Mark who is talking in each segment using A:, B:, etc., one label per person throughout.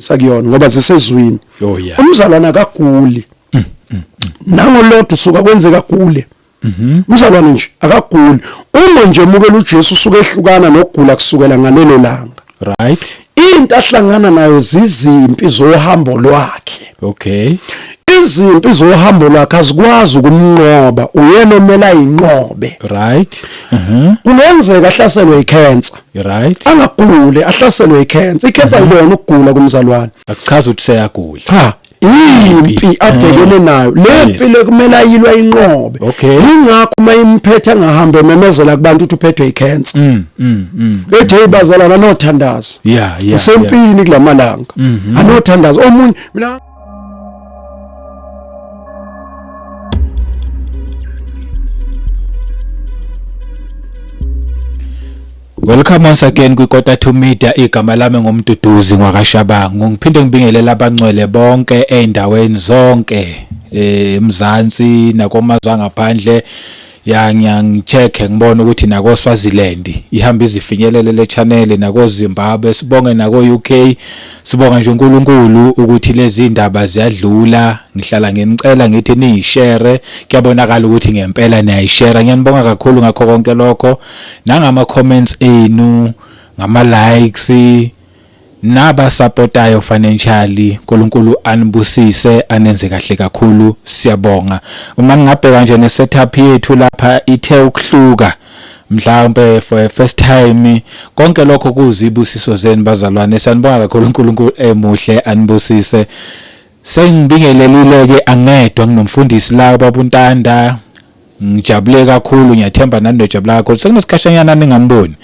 A: sakuyona ngoba zisezwini oh, umzalwane
B: akaguli
A: mm, mm, mm. nangolodwa usuka kwenzeka agule mhm. umzalwane nje akaguli uma nje emukela uJesu usuke ehlukana nokugula kusukela ngalelo langa right
B: into ahlangana
A: nayo zizimpi zohambo lwakhe okay
B: izimpi
A: zohambo lwakhe azikwazi ukumnqoba uyena omela inqobe right
B: mhm. kungenzeka
A: ahlaselwe icancer right
B: angaguli
A: ahlaselwe icancer icancer mhm. ilona ukugula kumzalwane akuchaza ukuthi seyagula
B: cha impi
A: eh. abhekene nayo le mpilo kumele ayilwa inqobe ingakho uma imphethe angahambe memezela kubantu ukuthi uphethwe icancer mm, mm, mm. ethe ibazalana nothandaza yeah yeah usempini kulamalanga mhm. anothandaza omunye mina
B: Welcome once again kwiKota to Media igama lami ngumduduzi ngwakashabangu ngiphinde ngibingelele abangcwele bonke eindaweni zonke eh, eMzansi nakomazwe angaphandle ya ngiyangicheck ngibona ukuthi nako Swaziland ihamba izifinyelele le channel nako Zimbabwe sibonge nako UK sibonga nje uNkulunkulu ukuthi lezi ndaba ziyadlula ngihlala nginicela ngithi niyishare kuyabonakala ukuthi ngempela niyayishare ngiyanibonga kakhulu ngakho konke lokho nangama comments enu ngama likes Naba supportayo financially Nkulunkulu anibusise anenze kahle kakhulu siyabonga. Uma ngingabheka nje ne setup yethu lapha ithe ukuhluka mhlawumbe for a first time konke lokho kuzibusiso zenu bazalwane sanibonga kakhulu uNkulunkulu emuhle anibusise sengibingelelile ke angedwa nginomfundisi la babuntanda Ngijabule kakhulu ngiyathemba nani nojabula kakhulu sekunesikhashanyana ningamboni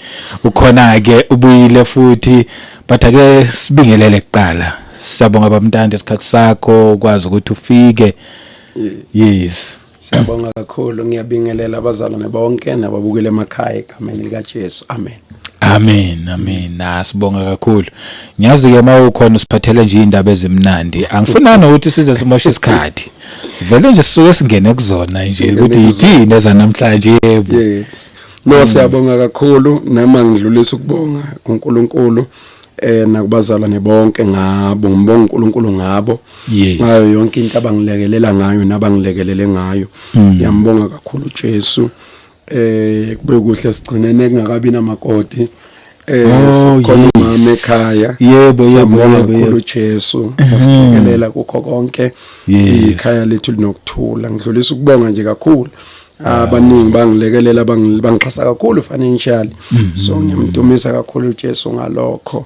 B: ukhona ke ubuyile futhi but ake sibingelele kuqala siyabonga bamntande isikhathi sakho ukwazi ukuthi ufike yes Siyabonga
A: kakhulu ngiyabingelela abazalwane bonke nababukele emakhaya egameni lika Jesu amen Amen
B: amen asibonga ah, kakhulu ngiyazi ke mawukhona usiphathele nje indaba ezimnandi angifunani ukuthi size simoshe isikhathi sivele nje sisuke singene kuzona nje ukuthi yithini ezanamhlanje yebo yes no
A: siyabonga kakhulu nama ngidlulisa ukubonga kuNkulunkulu eh nakubazalwane bonke ngabo ngibonga uNkulunkulu ngabo ngayo yonke into abangilekelela ngayo nabangilekelele ngayo hmm. ngiyambonga kakhulu uJesu eh kube kuhle sigcinene kungakabi namakoti eh oh, khona umama ekhaya yebo yebo
B: yebo
A: Jesu asilekelela kukho konke ikhaya lethu linokuthula ngidlulisa ukubonga nje kakhulu ah. abaningi bangilekelela bangixhasa kakhulu financially mhm. so ngiyamdumisa kakhulu uJesu ngalokho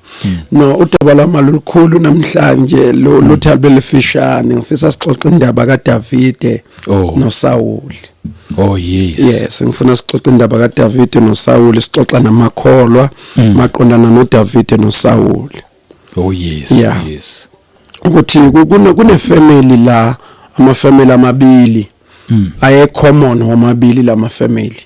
A: Hmm. no udaba lwami lolukhulu namhlanje lo hmm. luthi alubelifishane ngifisa sixoxe indaba kaDavide oh. noSawuli Oh
B: yes. Yes, ngifuna sixoxe
A: indaba kaDavide noSawuli, sixoxa namakholwa hmm. maqondana noDavide noSawuli. Oh yes,
B: yeah. yes.
A: Ukuthi kune family la, ama family amabili. mm. aye common womabili lama family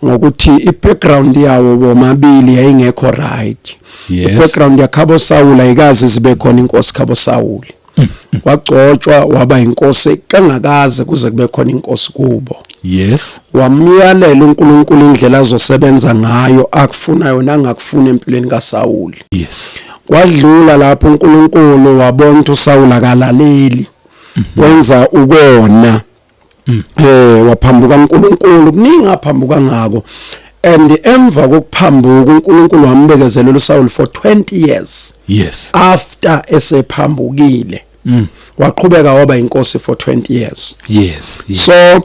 A: ngokuthi i-background yawo womabili yayingekho right yes. i-background yakhabo sawula ayikazi zibe khona inkosi khabo sawula mm. mm. wagcotshwa waba inkosi kangakaze kuze kube khona inkosi kubo yes
B: wamyalela
A: uNkulunkulu indlela azosebenza ngayo akufuna yona angakufuna empilweni kaSawuli yes
B: wadlula
A: lapho uNkulunkulu wabona uSawula kalaleli mhm. wenza ukona mm. eh waphambuka uNkulunkulu kuningi aphambuka ngako and emva kokuphambuka uNkulunkulu wambekezelela uSaul for 20 years yes after esephambukile mm. waqhubeka waba inkosi for 20 years yes, yes. so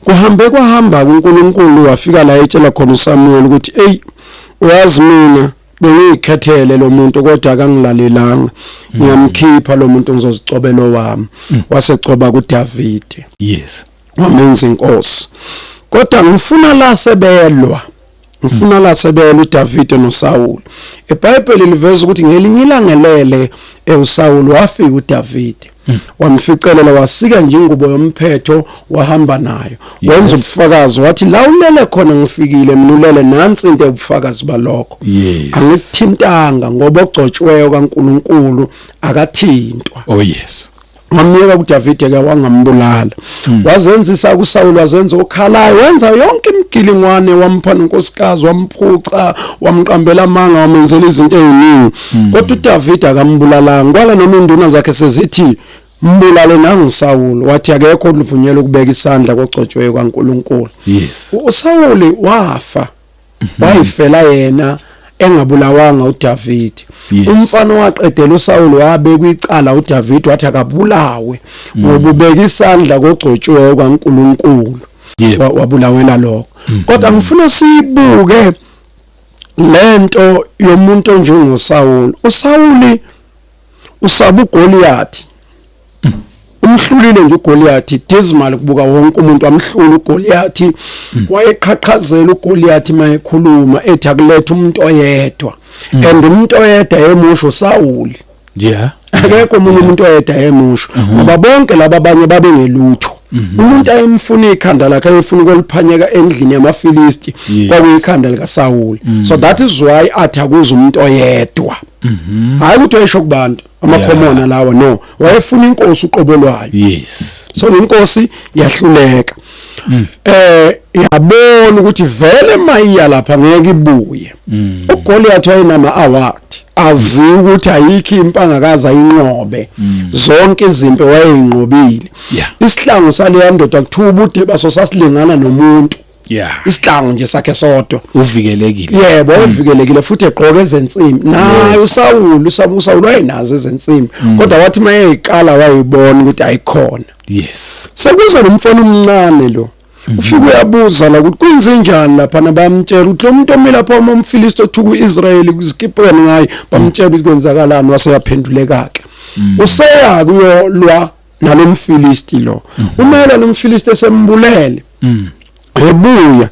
A: kuhambe kwahamba uNkulunkulu wafika la etshela khona uSamuel ukuthi hey uyazi mina bengiyikhethele lo muntu kodwa akangilalelanga mm. ngiyamkhipha lo muntu ngizozicobela owami mm. wasecoba kuDavide yes
B: wamenza
A: inkosi kodwa ngifuna la sebelwa ngifuna la sebelwa uDavide noSawulu eBhayibheli liveza ukuthi ngelinye ilangelele eusawulu wafika uDavide hmm. wamficelela wasika nje ingubo yomphetho wahamba nayo wenza ubufakazi wathi la ulele khona ngifikile mina ulele nansi into ubufakazi balokho angikuthintanga ngoba ogcotshweyo kaNkuluNkulu akathintwa oh yes
B: wamyeka kuDavide
A: ke wangambulala hmm. wazenzisa kuSawulu wazenza okhalayo wenza yonke imigilingwane wamphana unkosikazi wamphuca wamqambela amanga wamenzela izinto eziningi hmm. kodwa uDavid akambulalanga kwala noma induna zakhe sezithi mbulale nangu Sawulu wathi akekho oluvunyelwe ukubeka isandla kogcotshwe kwaNkuluNkulu yes
B: uSawulu
A: wafa mhm. wayifela yena engabulawanga uDavid yes. umfana waqedela uSawulu wabekwa icala uDavid wathi akabulawe mm. ngoba ubeka isandla kogcotshwe kwaNkuluNkulu yep. wabulawela lokho mm. kodwa ngifuna sibuke lento yomuntu onjengoSawulu uSawuli usaba uGoliyathi umhlulile nje uGoliyathi dismal kubuka wonke umuntu amhlula uGoliyathi hmm. wayeqhaqhazela uGoliyathi mayekhuluma ethi akulethe umuntu oyedwa hmm. and umuntu oyedwa emusho uSawuli yeah
B: akekho umuntu umuntu
A: oyedwa emusho mhm. ngoba bonke laba abanye babengelutho mhm. umuntu ayemfuna ikhanda lakhe ayefuna ukoliphanyeka endlini yamaFilisti kwakuyikhanda lika Saul mhm. so that is why athi akuze umuntu oyedwa hayi ukuthi wayesho kubantu amakhomona lawa no wayefuna inkosi uqobo lwayo yes so
B: inkosi
A: yahluleka mm. eh yabona ukuthi vele mayiya lapha ngeke ibuye mm. uGoliath wayenama award azi ukuthi ayikho impanga kaza inqobe mm. zonke izimpi wayeyinqobile isihlangu saleya ndoda kuthiwa ubude baso sasilingana nomuntu yeah isihlangu nje sakhe sodwa uvikelekile yebo
B: mm. uvikelekile
A: futhi egqoke ezensimbi naye usawulu usabusa wayenazo ezensimbi mm. kodwa wathi mayeyiqala wayibona ukuthi ayikhona yes
B: sekuza nomfana
A: omncane lo mhm. ufike uyabuza la ukuthi kwenzenjani lapha nabamtshela ukuthi lo muntu omile lapha uma umfilisti othuka uIsrayeli kuzikipeni ngaye bamtshela ukuthi kwenzakalani waseyaphenduleka ke mhm. useya kuyolwa nalomfilisti lo mhm. umela lomfilisti esembulele ebuya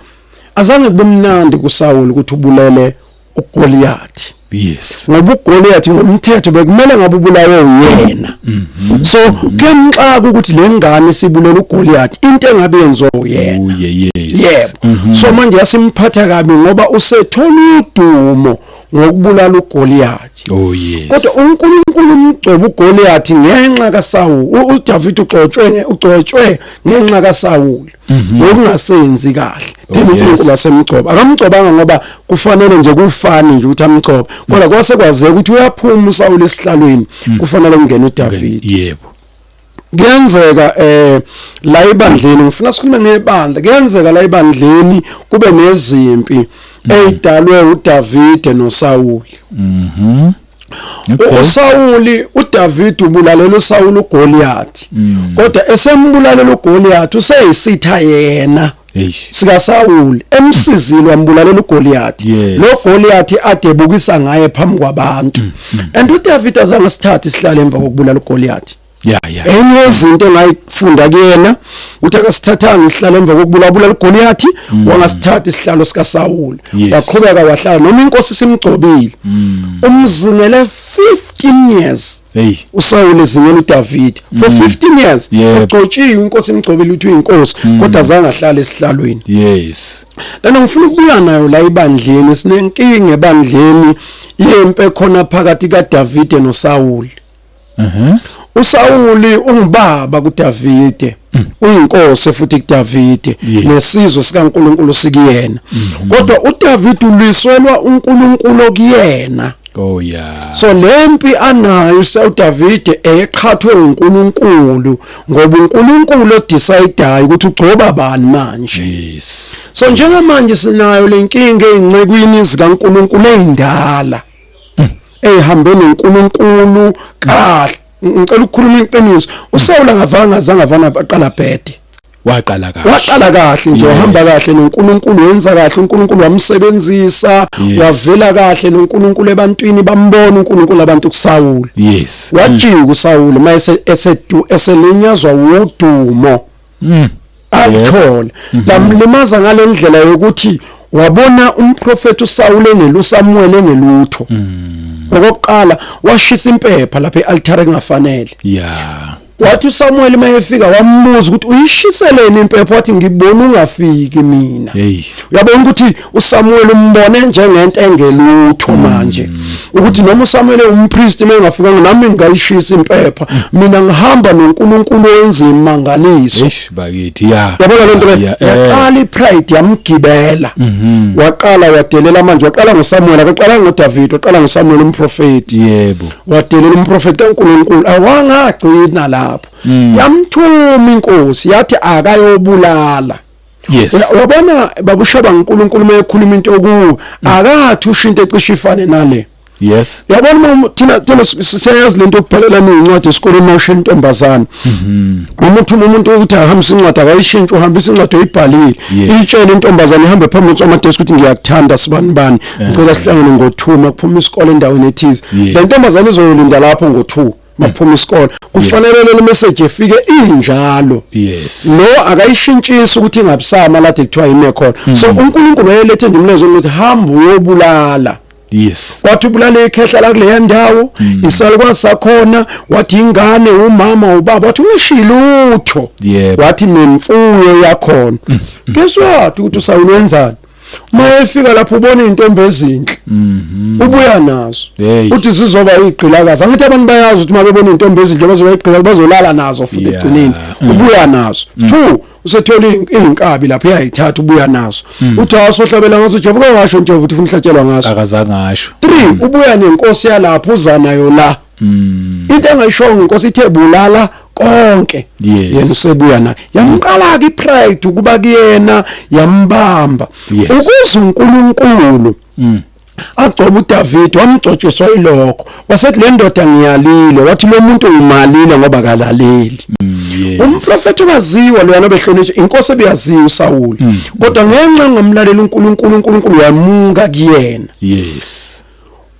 A: azange kubemnandi kuSawulu ukuthi ubulele uGoliath yes ngoba
B: uGoliath
A: ngomthetho bekumele ngabe ubulawe uyena mhm. so kuyamxaka ukuthi lengane sibulela uGoliath into engabe yenziwa uyena oh, yebo mhm. so manje yasimphatha kabi ngoba usethola udumo ngokubulala uGoliath oh yes kodwa
B: uNkulunkulu
A: umgcoba uGoliath ngenxa kaSawulu uDavid ugcotshwe ugcotshwe ngenxa kaSawulu Mhm. ngokungasenzi kahle oh, then uNkulunkulu wasemgcoba akamgcobanga ngoba kufanele nje kufani nje ukuthi amgcobe kodwa mm. kwase kwazeka ukuthi uyaphuma uSawule esihlalweni mm. kufanele kungene uDavid yebo
B: kuyenzeka
A: eh la ibandleni ngifuna sikhulume ngebandla kuyenzeka la ibandleni kube nezimpi mm. eyidalwe uDavid noSawule mhm Okay. USawuli uDavid ubulalela uSawuli uGoliath. Mm. Kodwa esembulalela uGoliath useyisitha yena. sika Sawuli emsizile wambulalela uGoliath lo Goliath adebukisa ngaye phambi kwabantu mm, mm. and uDavid azange sithathe isihlale emva kokubulala uGoliath ya ya enye izinto engayifunda kuyena uthi akasithathanga isihlalo emva kokubulabula ligoliyathi mm. wangasithatha isihlalo sika Saul waqhubeka wahlala noma inkosi simgcobile mm. umzingele 15 years Hey uSaul ezingela uDavid for 15 mm. years egcotshiwe inkosi imgcobile uthi uyinkosi kodwa zange ahlale esihlalweni yes
B: lana ngifuna ukubuya
A: nayo la ibandleni sinenkinga ebandleni yempe khona phakathi kaDavid noSaul Mhm. USawuli ungubaba kuDavide, mm. uyinkosi futhi kuDavide nesizwe sikaNkuluNkulu sikuyena. Mm-hmm. Kodwa uDavide ulwiselwa uNkuluNkulu okuyena. Oh yeah.
B: So lempi
A: anayo uDavide eyeqhathwe uNkulunkulu ngoba uNkulunkulu odecideayo ukuthi ugcoba bani manje. Yes. So
B: njengamanje
A: sinayo lenkinga ezincekwini zikaNkulunkulu ezindala. eyihambe noNkulunkulu kahle ngicela ukukhuluma iqiniso uSawula akavanga azange avana aqala bhede waqala kahle
B: waqala kahle
A: nje wahamba kahle noNkulunkulu wenza kahle uNkulunkulu wamsebenzisa wavela kahle noNkulunkulu ebantwini bambona uNkulunkulu abantu kuSawula yes wajika
B: uSawula
A: mayese esedu eselenyazwa wudumo mm. alithole mm-hmm. lamlimaza ngalendlela yokuthi wabona umprofeti uSawule engelo uSamuel engelutho mm. okokuqala washisa impepha lapha ealtare kungafanele yeah wathi uSamuel mayefika wambuza ukuthi uyishiseleni impepho wathi ngibona ungafiki mina uyabona ukuthi uSamuel umbone njengento engelutho mm. manje ukuthi noma uSamuel umpriest mengafika nami ngayishisa impepha mina ngihamba noNkulunkulu enzima mangaliso eish bakithi ya
B: yabona lento
A: eh. yaqala ipride yamgibela mm-hmm. waqala wadelela manje waqala ngoSamuel akaqala ngoDavid waqala ngoSamuel umprofeti yebo wadelela
B: umprofeti
A: kaNkulunkulu awangagcina lapho mm. yamthuma inkosi yathi akayobulala Yes. Uyabona babushaba uNkulunkulu mayekhuluma into okuwo akathi usho into ecishe ifane nale. Yes. Yabona uma thina thina siyazi lento yokuphelela incwadi esikoleni nosho intombazana. Mhm. Uma uthi umuntu ukuthi ahambise incwadi akayishintshe uhambisa incwadi oyibhalile. Itshele intombazana ihambe phambili kwama desk ukuthi ngiyakuthanda sibani bani. Ngicela sihlangane ngo2 makuphuma isikole endaweni ethize. Le ntombazana izoyolinda lapho ngo2. maphuma isikole kufanele le message efike injalo yes lo akayishintshisi ukuthi ingabusama lathi kuthiwa yime khona hmm. so uNkulunkulu wayelethe nje umlezo ukuthi hamba uyobulala yes wathi ubulale ikhehla la kuleya ndawo hmm. isalukwazi sakhona wathi ingane umama ubaba wathi ungishilutho wathi nemfuyo yakhona hmm. guess what ukuthi usawulenzani uma efika lapho ubona izintombi ezinhle mhm. ubuya nazo uthi zizoba igqilakazi angithi abantu bayazi ukuthi uma bebona izintombi ezinhle bazoba igqilakazi bazolala nazo futhi egcineni mm. ubuya nazo mm. two usethola izinkabi lapho uyayithatha ubuya nazo mm. uthi awasohlabela ngathi uJehova kwengasho nje ukuthi ufuna ihlatshelwa ngaso akazange asho three
B: ubuya nenkosi
A: yalapho uza nayo la Mm. Into engayishongo inkosi ithe bulala konke yes. yena usebuya naye yamqala ke ipride ukuba kuyena yambamba yes. ukuze uNkulunkulu mm. agcoba uDavid wamgcotshiswa ilokho wasethi le ndoda ngiyalile wathi lo muntu uyimalile ngoba kalaleli mm, yes. umprofeti waziwa loyana obehlonishwa inkosi ebiyaziwa uSawulu mm. kodwa ngenxa ngamlalela uNkulunkulu uNkulunkulu wamunga kuyena yes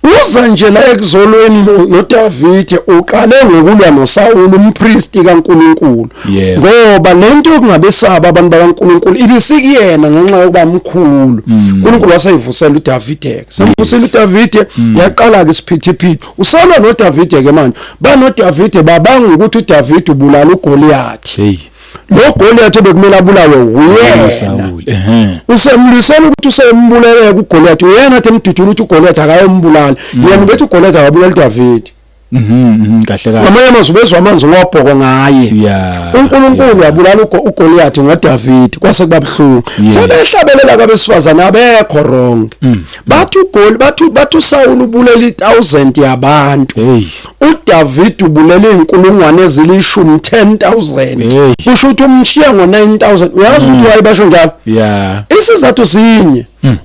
A: Uza nje la ekuzolweni noDavide uqale ngokulwa noSawulu umpristi kaNkuluNkulu ngoba lento yokungabesaba abantu bakaNkuluNkulu ibisikuyena ngenxa yokuba mkhulu mm. uNkuluNkulu waseyivusela uDavide samvusela uDavide mm. yaqala ke isiphithiphithi usalwa noDavide ke manje banoDavide babanga ukuthi uDavide ubulala uGoliath hey lo Goliath obekumele abulawe uyena Saul ehe usemlisela ukuthi usembulele kuGoliath uyena athi emdudula ukuthi uGoliath akayombulala mm. yena ubethi uGoliath akabulala uDavid Mhm, mhm
B: kahle kahle ngamanye amazwi ubezwa amanzi
A: wabhoko ngaye yeah uNkulunkulu wabulala uGoliath ngoDavid kwase kubabhlungu sebehlabelela kabesifazane abekho wrong mm. bathi uGoli bathi bathi uSawulu ubulela i1000 yabantu uDavid ubulele izinkulungwane ezilishumi 10000 kusho ukuthi umshiya ngo9000 uyazi ukuthi mm. wayebasho njalo yeah isizathu sinye mm.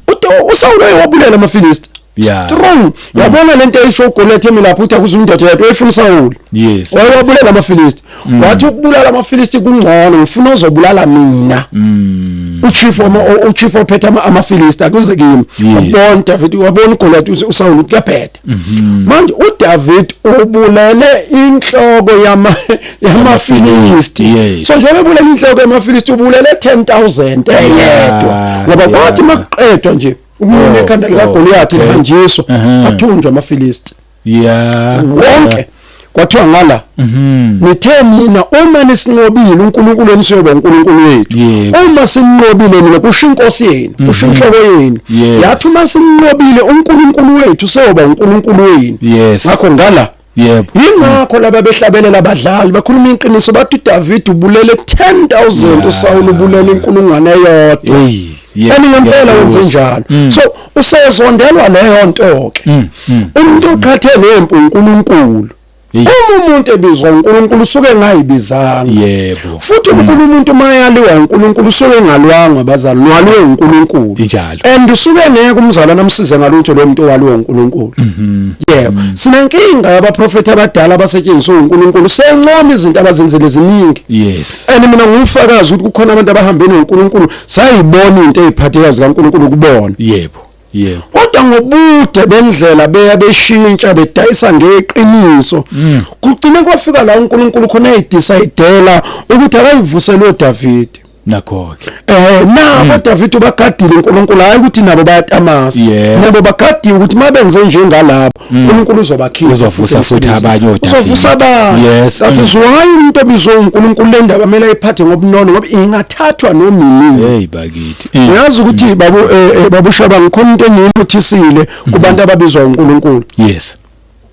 A: uSawulu wayebulela amaFilisti yeah strong mm. yabona lento eyisho uGoliath emilapho uthi akuze undoda yedwa efuna uSawulu yes wayebulela amaFilisti mm. wathi ukubulala amafilisti kungcono ngifuna ozobulala mina mm. uchief wama uchief ophethe amafilisti akuze kimi wabona David wabona uGoliath uSawulu kuyabheda mm-hmm. manje uDavid ubulele inhloko yama yamafilisti so njengoba ubulele inhloko yamafilisti ubulele 10000 eyedwa ngoba kwathi makuqedwa nje umuntu oh, ekhanda lika oh, Goliath lihanjiswa athunjwa amafilisti yeah wonke kwathiwa ngala mhm. nithe mina uma nisinqobile uNkulunkulu emsiyoba uNkulunkulu wethu uma sinqobile mina kusho inkosi yenu mhm. kusho inhloko yenu yathi uma sinqobile uNkulunkulu wethu seyoba uNkulunkulu wenu ngakho ngala yebo yingakho laba behlabelela abadlali bakhuluma iqiniso bathi David ubulele 10000 uSawulu ubulele inkulungwane eyodwa Yes, and ngempela wenze njalo mm. so usezondelwa leyo nto ke mm, mm, umuntu oqhathe nempu uNkulunkulu uma umuntu ebizwa uNkulunkulu usuke engayibizanga yebo futhi uNkulunkulu umuntu mayaliwa uNkulunkulu usuke engalwanga bazali nwaliwe uNkulunkulu injalo and usuke ngeke umzalwana amsize ngalutho lo muntu owaliwe uNkulunkulu mhm. yebo sinenkinga yabaprofeti abadala abasetshenziswa uNkulunkulu sencoma izinto abazenzele ziningi yes and mina ngufakazi ukuthi kukhona abantu abahambe noNkulunkulu sayibona into eziphathekayo zikaNkulunkulu kubona yebo yebo kodwa ngobude bendlela beya beshintsha bedayisa ngeqiniso mm. kugcine kwafika la uNkulunkulu khona eyidecidela ukuthi akayivusele uDavid nakho
B: ke eh
A: nabo mm. David ubagadile uNkulunkulu hayi ukuthi nabo bayatamasa nabo bagadiwe ukuthi mabenze njengalabo Mm. uNkulunkulu uzobakhipha uzovusa futhi abanye
B: oDavide uzovusa abanye yes
A: that is why umuntu obizwe uNkulunkulu le ndaba kumele ayiphathe ngobunono ngoba ingathathwa nomini hey bakithi mm.
B: uyazi ukuthi mm. babu
A: eh, eh, babushaba ngikhona into engiyinothisile kubantu ababizwa uNkulunkulu yes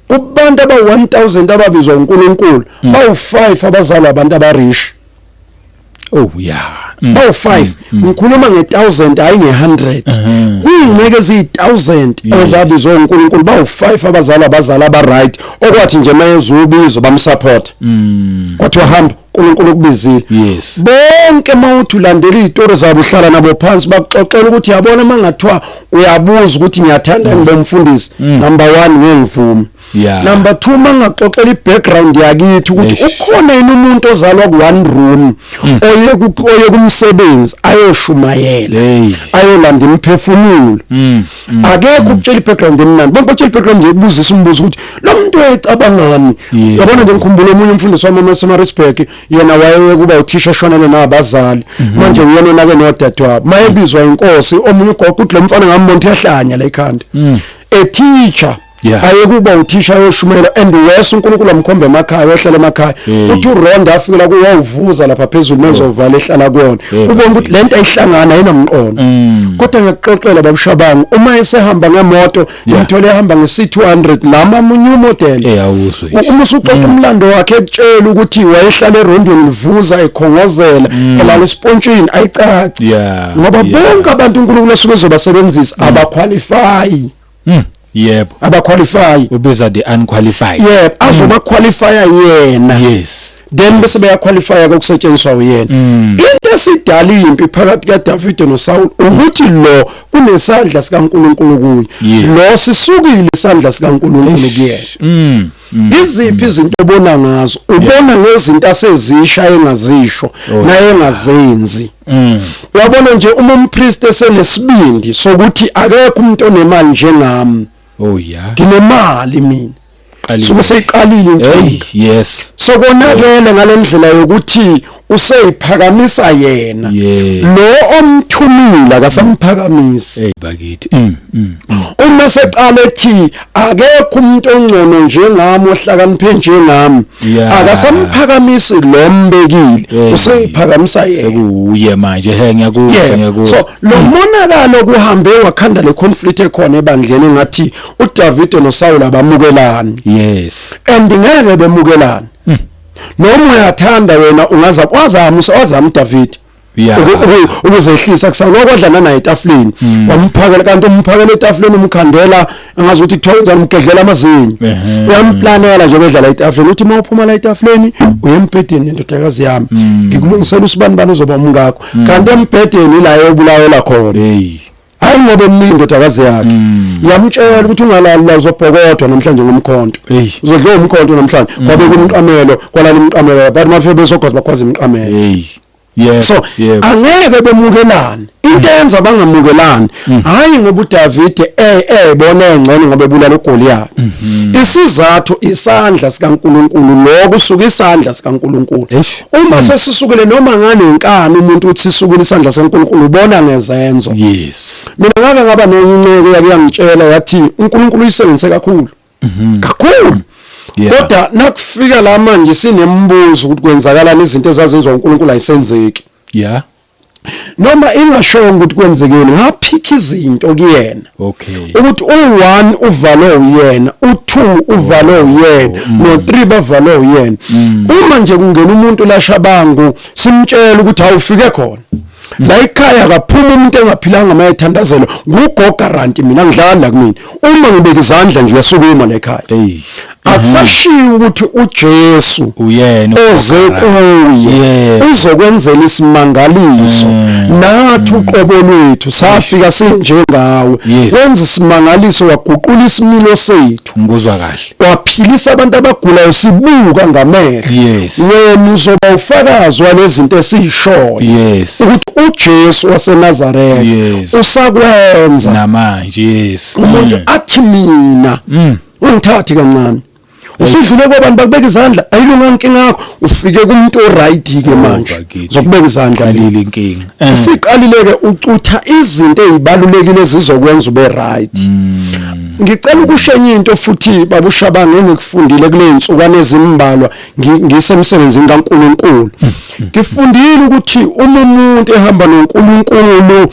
B: kubantu
A: aba 1000 ababizwa uNkulunkulu bawu 5 abazalwa abantu abarish
B: Oh yeah. Mm. Bawu 5 mm,
A: mm. ngikhuluma nge 1000 hayi nge 100. Uh-huh. Kuyingceke ezi 1000 ezabizwe uNkulunkulu bawu 5 abazali abazali aba right okwathi nje mayezu ubizo bamsupport. Mm. Kodwa uhamba uNkulunkulu ukubizile. Yes. Bonke
B: mawuthi
A: ulandela izitori zabo uhlala nabo phansi bakuxoxela ukuthi yabona mangathiwa uyabuza ukuthi ngiyathanda ngibomfundisi number 1 ngengivumi. yeah. number 2 mangaxoxela ibackground yakithi ukuthi ukhona yini umuntu ozalwa ku one room mm. oye ku oye kumsebenzi ayoshumayela hey. ayolanda imphefumulo mm. mm. akekho mm. ukutshela ibackground emnandi bonke batshela ibackground yekubuzisa umbuzo ukuthi lo muntu ecabangani yeah. yabona nje ngikhumbula omunye umfundisi wami eMasemaritsburg yena waye kuba uthisha shonele nabazali mm -hmm. manje uyena nake nodadewabo mayebizwa inkosi omunye ugogo uthi lo mfana ngambona uyahlanya la ekhanda mm. a teacher yeah. ayekuba uthisha yoshumela and worse uNkulunkulu amkhombe emakhaya ohlala emakhaya uthi uRonda afikela kuwe wawuvuza lapha phezulu mezovala ehlala kuyona ubona ukuthi lento ayihlangana ayinamqondo mm. kodwa ngiyakuxoxela babushabangu uma esehamba ngemoto ngimthole ehamba nge-C200 lama omunye umodel uma
B: usuxoxa mm. umlando
A: wakhe ekutshela ukuthi wayehlala erondweni livuza ekhongozela mm. elala esipontshini ayicaci ngoba bonke abantu uNkulunkulu osuke ezobasebenzisa abakhwalifayi Mm.
B: Yebo. Abaqualify.
A: Ubiza the
B: unqualified. Yebo, azoba mm.
A: qualify yena. Yes. then
B: bese beyaqualifya
A: kokusetshenziswa uyena mm. into esidala impi phakathi kaDavid noSaul ukuthi lo kunesandla sikaNkuluNkulu kuye lo sisukile isandla sikaNkuluNkulu kuyena mm. Mm. iziphi izinto obona ngazo ubona ngezinto asezisha engazisho oh, naye engazenzi mm. uyabona nje uma umpriest esenesibindi sokuthi akekho umuntu onemali njengami oh yeah
B: nginemali mina
A: suke seyiqalile inkinga yes
B: sokonakele
A: ngalendlela yokuthi useyiphakamisa yena lo omthumile akasamphakamisi hey bakithi
B: mm, mm. uma
A: seqale ethi akekho umuntu ongcono njengami ohlakaniphe njengami akasamphakamisi lo mbekile useyiphakamisa yena sekuye manje
B: he ngiyakuzwa ngiyakuzwa so lo mm.
A: monakalo kuhambe wakhanda le conflict ekhona ebandleni ngathi uDavid noSaul abamukelani yes
B: and ngeke
A: bemukelani noma uyathanda wena ungaza wazama usawazama uDavid ukuzehlisa kusana okwadlana naye etafuleni hmm. wamphakela kanti umphakela etafuleni umkhandela angazi ukuthi kuthiwa wenzani umgedlela amazinyo uyamplanela nje bedlala etafuleni uthi uma uphuma la etafuleni uyembhedeni indodakazi yami hmm. ngikulungisela usibani bani uzoba umngakho hmm. kanti embhedeni la yobulawela khona hayi ngoba emningi indodakazi yakhe mm. yamtshela ukuthi ungalali la uzobhokodwa namhlanje ngomkhonto uzodla umkhonto namhlanje mm. kwabe kumqamelo kwalala umqamelo but mafike bezogoza bakwazi imqamelo hey yeah so angeke bemukelane into mm. enza bangamukelani hayi ngoba uDavide eh eh bona engcono ngoba ebulala uGoliath mm-hmm. isizathu isandla sikaNkuluNkulu lokho usuka isandla sikaNkuluNkulu uma sesisukile noma ngane inkani umuntu uthi isukile isandla seNkulunkulu ubona ngezenzo yes mina
B: ngake ngaba
A: noncineke yakuyangitshela yathi uNkulunkulu uyisebenzise kakhulu mhm. kakhulu kodwa nakufika la manje sinembuzo ukuthi kwenzakalani izinto ezazenziwa uNkulunkulu ayisenzeki yeah noma ingashongo ukuthi kwenzekeni ngaphikha izinto kuyena okay ukuthi u1 uvalwe uyena u2 uvalwe oh, uyena oh, mm. no3 bavalwe uyena mm. uma nje kungena umuntu lashabangu simtshela ukuthi awufike khona mm. la ikhaya kaphuma umuntu engaphilanga maye thandazelo ngugoga ranti mina ngidlala kumina uma ngibeka izandla nje uyasukuma la ekhaya akusashiwo ukuthi uJesu uyena oze
B: kuye
A: uzokwenzela isimangaliso mm. nathi mm. uqobo lwethu safika sinjengawe wenza isimangaliso waguqula isimilo sethu ngikuzwa kahle
B: waphilisa abantu
A: abagulayo sibuka ngamehlo wena uzoba ufakazi walezinto esishoyo ukuthi uJesu waseNazaretha usakwenza namanje yes umuntu mm. athi mina ungithathi kancane usudlule kwabantu bakubeka izandla ayilunga inkinga yakho ufike kumuntu oright ke oh, manje zokubeka izandla leli inkinga
B: eh. siqalile ke
A: ucutha izinto ezibalulekile zizokwenza ube right hmm. ngicela ukushenye into futhi babushabange ngikufundile kule nsukwana ezimbalwa ngisemsebenzini kaNkuluNkulu mm, mm. ngifundile ukuthi uma umuntu ehamba noNkuluNkulu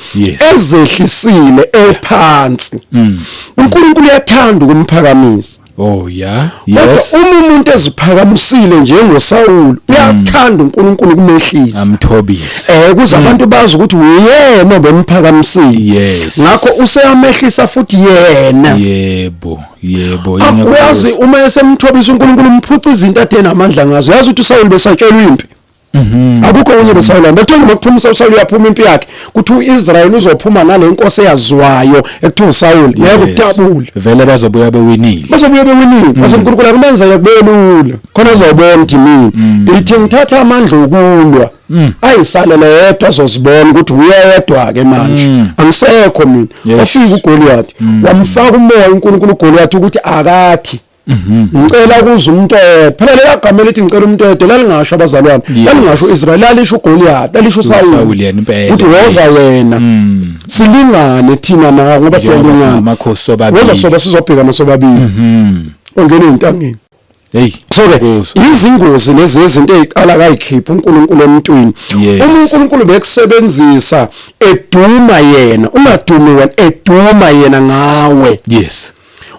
A: ezehlisile ephansi mm. uNkuluNkulu uyathanda ukumphakamisa Oh yeah.
B: Yes. Kodwa uma umuntu
A: eziphakamisile njengoSawulu uyathanda uNkulunkulu kumehlisa. Amthobise. Eh
B: kuze abantu
A: bazi ukuthi uyena obemphakamisile. Yes. Ngakho
B: useyamehlisa
A: futhi yena. Yebo.
B: yebo ah,
A: uyazi uma esemthobisa uNkulunkulu umphuca izinto athe namandla ngazo uyazi ukuthi uSawulu besatshelwa impi mhm. akukho okunye uSawulu bekuthiwa noma kuphuma uSawulu uyaphuma impi yakhe kuthi uIsrael uzophuma nale nkosi eyaziwayo ekuthiwa uSawulu ngeke utabule vele bazobuya
B: bewinile bazobuya bewinile mhm.
A: base uNkulunkulu akumenzele kubelula khona uzobona ukuthi mina mm. ithi ngithatha amandla okulwa Mm. ayisalele yedwa azozibona ukuthi uyedwa ke manje mm. angisekho mina wafika yes. uGoliath mm. wamfaka umoya uNkulunkulu uGoliath ukuthi akathi mhm. ngicela kuza umuntu oyedwa phela lela gama elithi ngicela umuntu oyedwa lalingasho abazalwane yes. lalingasho uIsrael lalisho uGoliath lalisho uSawuli yena impela ukuthi woza
B: wena
A: mm. silingane thina nawe ngoba siyalingana amakhosi sobabili woza
B: soba sizobhekana
A: sobabili mhm. ongena ezintangeni Hey, so ke izingozi lezi nezinto eziqala kayikhipha uNkulunkulu emntwini. Yes. Uma uNkulunkulu bekusebenzisa eduma yena, ungadumi wena eduma yena ngawe. Yes.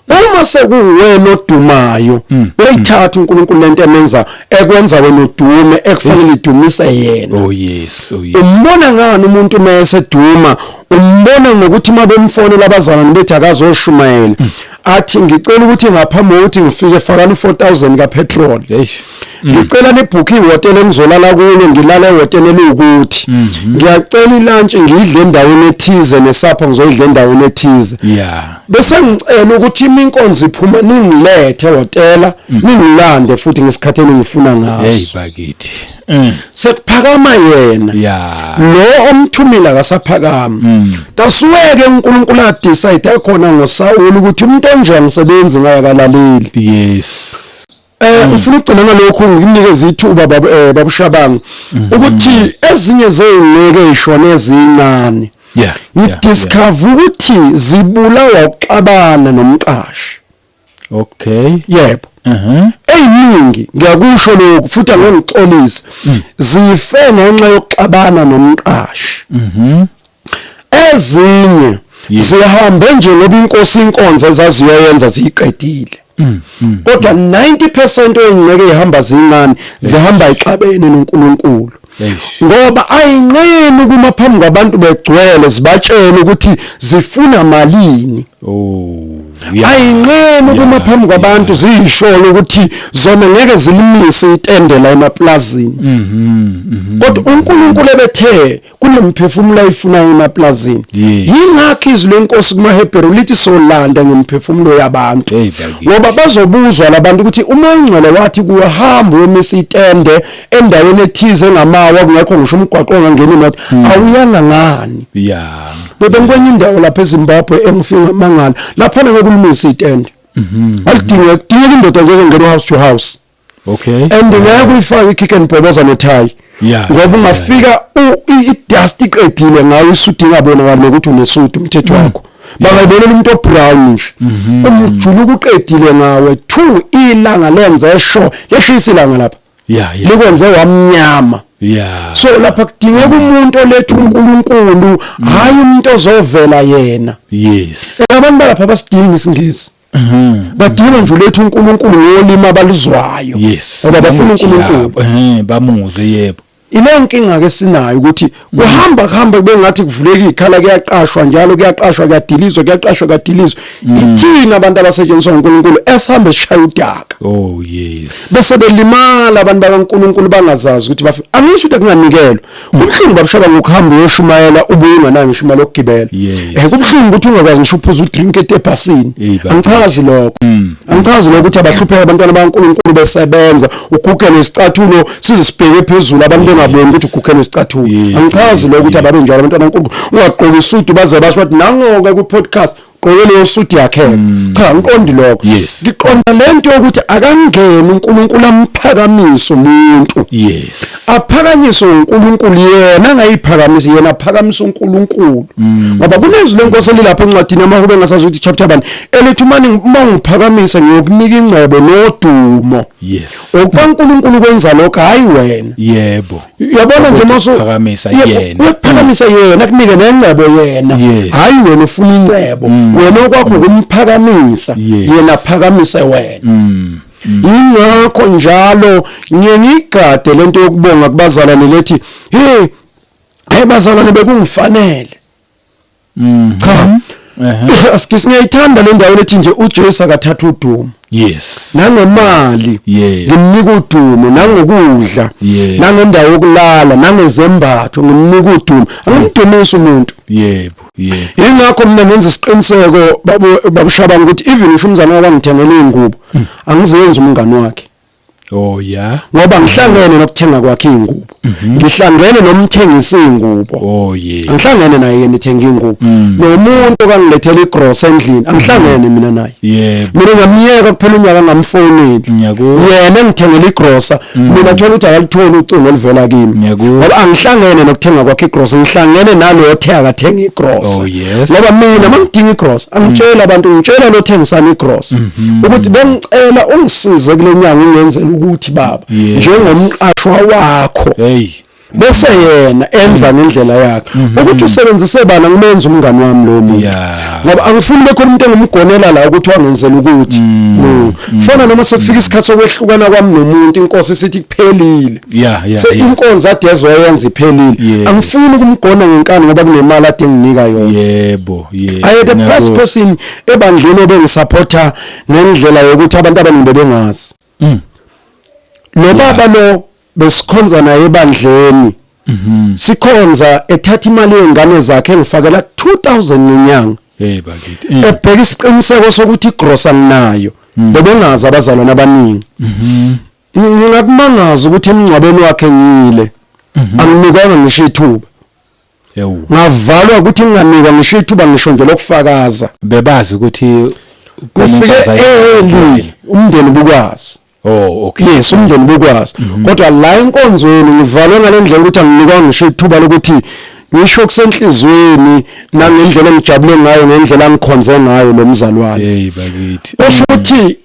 B: uma
A: sekuwena odumayo mm, mm. uyithatha uNkulunkulu lento emenza ekwenza wena udume ekufanele idumise yena oh yes oh yes
B: umbona ngani
A: umuntu mase duma umbona ngokuthi mabemfonela abazalwane bethi akazoshumayela mm. athi ngicela ukuthi ngaphambi kokuthi ngifike fakani 4000 ka petrol eish mm. ngicela nibhuke ihotela engizolala kulo ngilala ehotela elukuthi mhm. ngiyacela ilunch ngidle endaweni ethize nesapha ngizoyidla endaweni ethize yeah bese ngicela ukuthi iminkonzo iphuma ningilethe hotela mm. ningilande futhi ngesikhathi engifuna ngaso hey bakithi
B: mm. sekuphakama
A: yena yeah lo omthumile akasaphakama mm. that's where ke uNkulunkulu a decide khona ngoSawulu ukuthi umuntu onjani usebenzi ngaye akalaleli yes
B: Eh mm. ufuna
A: ukugcina ngalokho nginikeza ithuba baba eh babushabanga mm-hmm. ukuthi ezinye zezinceke ishona ezincane yeah ngidiscover ukuthi zibulawa ukuxabana nomqashi Okay.
B: Yebo.
A: Mhm. Eyiningi ngiyakusho lokho futhi angengixolisi. Mm. Zife ngenxa yokuxabana nomqashi. Mhm. Ezinye zihambe nje ngoba inkosi inkonzo ezaziyoyenza ziyiqedile. Mm, mm, kodwa 90% ezinceke ihamba zincane zihamba ixabene noNkulunkulu ngoba ayinqeni kuma phambi kwabantu begcwele zibatshela ukuthi zifuna malini oh ayinqeni kuma phambi kwabantu ziyisholo ukuthi zona ngeke zilimise itende la emaplazini mhm, mhm. kodwa uNkulunkulu ebethe kunemphefumulo ayifuna emaplazini yingakho izwi lenkosi kuma Hebrew lithi solanda ngemphefumulo yabantu ngoba bazobuzwa labantu ukuthi uma ingcwele wathi kuhamba wemisa itende endaweni ethize engamawa kungekho ngisho umgwaqo ongangena imoto hmm. awuyanga ngani yeah bebengikwenye indawo lapha eZimbabwe engifika amangala lapha nekulumisa itende mhm. alidinga kudinga indoda nje engena house to house okay and
B: ngeke kuyifaka
A: ikick and bhoboza netie ngoba ungafika idust iqedile ngayo isudu ingabonakali nokuthi unesudu umthetho mm. wakho bangayibonela umuntu obrown nje mhm. umjuluko uqedile ngawe two ilanga lenze esho leshisa ilanga lapha yeah, yeah. likwenze wamnyama yeah. so lapha kudingeka umuntu oletha uNkulunkulu hayi umuntu ozovela yena yes
B: abantu balapha basidinga
A: isingisi mhm. badinga nje uletha uNkulunkulu ngolimi abaluzwayo yes ngoba bafuna uNkulunkulu bamuzwe yebo
B: Ile nkinga ke
A: sinayo ukuthi kuhamba kuhamba kube ngathi kuvuleka ikhala kuyaqashwa njalo kuyaqashwa kuyadilizwa kuyaqashwa kuyadilizwa mm. ithina abantu abasetshenziswa uNkulunkulu esihambe sishaya udaka oh yes
B: bese belimala
A: abantu bakaNkulunkulu bangazazi ukuthi bafi angisho ukuthi kunganikelwa mm. kubuhlungu babushaba ngokuhamba uyoshumayela ubuye unganayo ngisho imali yokugibela eh kubuhlungu ukuthi ungakwazi ngisho uphuza udrink etebhasini angichazi lokho mm. angichazi lokho ukuthi abahlupheka abantwana bakaNkulunkulu besebenza ugugele isicathulo sizisibheke phezulu abantu bengaboni ukuthi ugukhela isicathulo angichazi lokho ukuthi ababe njalo abantwana uNkulunkulu ungaqoki isudu baze basho ukuthi nangoke ku podcast gqoke leyo suit yakhe mm. cha ngiqondi lokho ngiqonda
B: lento yokuthi
A: akangeni uNkulunkulu amphakamise umuntu yes aphakanyiswe uNkulunkulu yena angayiphakamisi yena aphakamisa uNkulunkulu mm. ngoba kunezwi lenkosi elilapha encwadini amahube ngasazi ukuthi chapter 1 elithi uma ngiphakamisa ngiyokunika ingcebo nodumo yes okaNkuluNkulu kwenza lokho hayi wena yebo
B: yabona nje maso
A: phakamisa yena
B: uyaphakamisa mm. yena
A: kunike nengcebo yena hayi wena ufuna ingcebo mm. wena okwakho mm. ukumphakamisa yena phakamisa wena yingakho njalo ngiye ngigade lento yokubonga kubazalwane lethi hey hey bazalwane bekungifanele Mm. Cha. Ehhe. Excuse me, ithanda le ndawo lethi nje uJesu akathatha udumo. Yes. nangemali Yeah. ngimnika udumo nangokudla Yeah. nangendawo yokulala nangezembatho ngimnika udumo angimdumisi umuntu Yebo. Yebo. yingakho mina ngenza isiqiniseko babu- babushaba ukuthi even usho umzana wami angithengele iy'ngubo angizenzi umngani wakhe Oh yeah. Ngoba ngihlangene nokuthenga kwakhe ingubo. Mhm. Ngihlangene nomthengisa ingubo. Oh yeah. Angihlangene naye yena ethenga ingubo. Mm. Nomuntu okangilethela igross endlini, angihlangene mina naye. Yeah. Mina ngamyeka kuphela unyaka ngamfoneli. Ngiyakuwa. Yena engithengela igrossa, mm. mina thola ukuthi akalitholi ucingo oluvela kimi. Ngiyakuwa. Ngoba angihlangene nokuthenga kwakhe igross, ngihlangene nalo othe akathenga igross. Oh yeah. yes. ngoba mina mangidinga igross angitshela mm. abantu ngitshela lothengisana igross mm -hmm. ukuthi bengicela ungisize kule nyanga ungenzela ukuthi baba yes. njengomqashwa wakho hey bese yena enza ngendlela yakhe mhm. ukuthi usebenzise bana ngimenza umngani wami lo muntu ngoba angifuni bekhona umuntu engumgonela la ukuthi wangenzela ukuthi mm. Mm. fana noma sekufika isikhathi sokwehlukana kwami nomuntu inkosi sithi kuphelile yeah yeah se inkonzo ade ezoyenza iphelile angifuni ukumgona ngenkani ngoba kunemali ade nginika yona yebo yebo aye the best person ebandleni obengisupporter ngendlela yokuthi abantu abaningi bengazi mm. lo baba lo besikhonza naye ebandleni mhm. sikhonza ethatha imali yengane zakhe engifakela 2000 ngenyanga hey bakithi
B: mm. ebheka isiqiniseko
A: sokuthi igrosa nginayo mm. bebengazi abazalwana abaningi mhm. ngingakumangaza ukuthi emngcwabeni wakhe ngile mhm. anginikanga ngisho ithuba ngavalwa ukuthi nginganikwa ngisho ithuba ngisho nje lokufakaza bebazi ukuthi
B: kufike
A: early umndeni bukwazi Oh okay. Yes umndeni bukwazi. Mhm. Kodwa la inkonzweni ngivalwe ngalendlela ukuthi anginikwa ngisho ithuba lokuthi ngisho kusenhlizweni nangendlela engijabule ngayo ngendlela ngikhonze ngayo lo mzalwane. Hey bakithi. Usho
B: ukuthi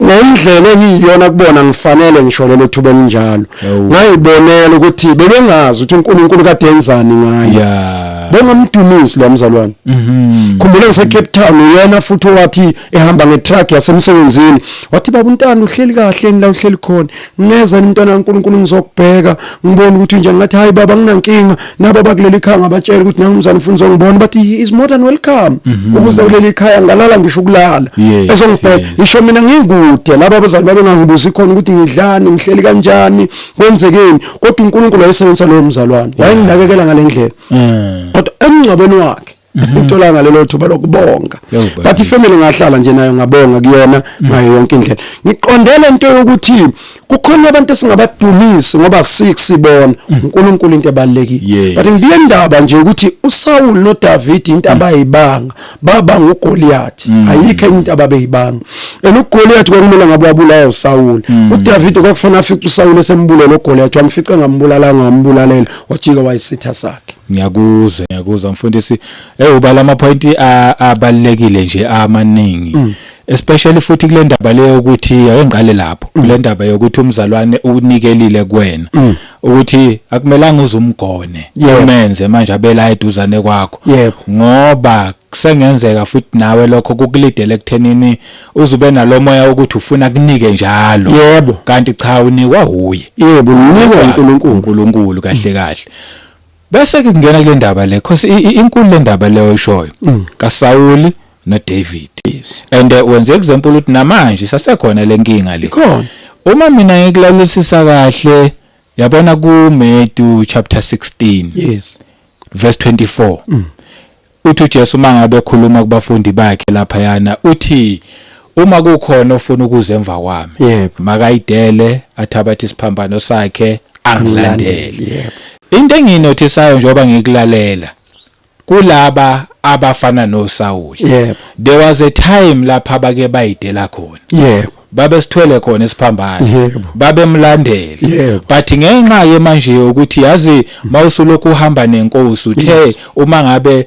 A: ngendlela engiyiyona kubona ngifanele ngisho lelo thuba elinjalo ngayibonela ukuthi bebengazi ukuthi uNkulunkulu kade enzani ngayo bengamdumisi lo mzalwane mhm. khumbula ngise Cape Town uyena futhi owathi ehamba ngetruck yasemsebenzini wathi baba untando uhleli kahle ngila uhleli khona ngeza nomntwana kaNkulunkulu ngizokubheka ngibone ukuthi unjani ngathi hayi baba nginankinga nabo bakuleli khaya ngabatshela ukuthi nami umzana ufuna uzongibona but he is more than welcome mhm. ukuze kuleli khaya ngalala ngisho ukulala ezongibheka ngisho mina ngikude laba abazali babe ngangibuzi khona ukuthi ngidlani ngihleli kanjani kwenzekeni kodwa uNkulunkulu wayesebenzisa lowo mzalwane wayenginakekela ngalendlela eh. kodwa emngcwabeni wakhe Mhm. uthola ngalelo thuba lokubonga but ifamily ngahlala nje nayo ngabonga kuyona mhm. ngayo yonke indlela ngiqondele into yokuthi kukhona abantu esingabadumisi ngoba sik sibona mhm. uNkulunkulu into ebalekile but ngiye ndaba nje ukuthi uSaul noDavid into abayibanga baba nguGoliath ayikho into ababeyibanga and uGoliath kwakumele ngabe wabulala uSaul uDavid kwakufanele afice uSaul esembulele uGoliath wamfica ngambulalanga wambulalela wajika wayisitha sakhe ngiyakuzwa ngiyakuzwa
B: mfundisi eh uba lama point abalekile nje amaningi mm. especially futhi kule ndaba leyo ukuthi ayengiqale lapho mm. kule ndaba yokuthi umzalwane unikelile kuwena mm. ukuthi akumelanga uzumgone umenze manje abela eduzane kwakho ngoba kusengenzeka futhi nawe lokho kukulidele ekuthenini uze ube nalomoya wokuthi ufuna kunike njalo yebo kanti cha unikwa huye yebo unikwa uNkulunkulu
A: uNkulunkulu
B: kahle kahle bese ke kungena kule ndaba le cause inkulu le ndaba leyo ishoyo mm. kaSawuli noDavid yes. and uh, wenze example ukuthi namanje sasekhona lenkinga le khona uma mina ngikulalusisa kahle yabona ku Matthew chapter 16 yes verse 24 mm. uthi uJesu mangabe ekhuluma kubafundi bakhe lapha yana uthi uma kukhona ofuna ukuze emva kwami yep. makayidele athabathe isiphambano sakhe angilandele yep. into enginothisayo njengoba ngikulalela kulaba abafana noSawuli yep. there was
A: a
B: time lapha bake bayidela khona yebo babesithwele
A: khona
B: isiphambano Yebo.
A: babemlandela
B: Yebo. but ngenxa
A: ye
B: manje ukuthi yazi mawusulokhu uhamba nenkosi uthe Yes. Mm. uma ngabe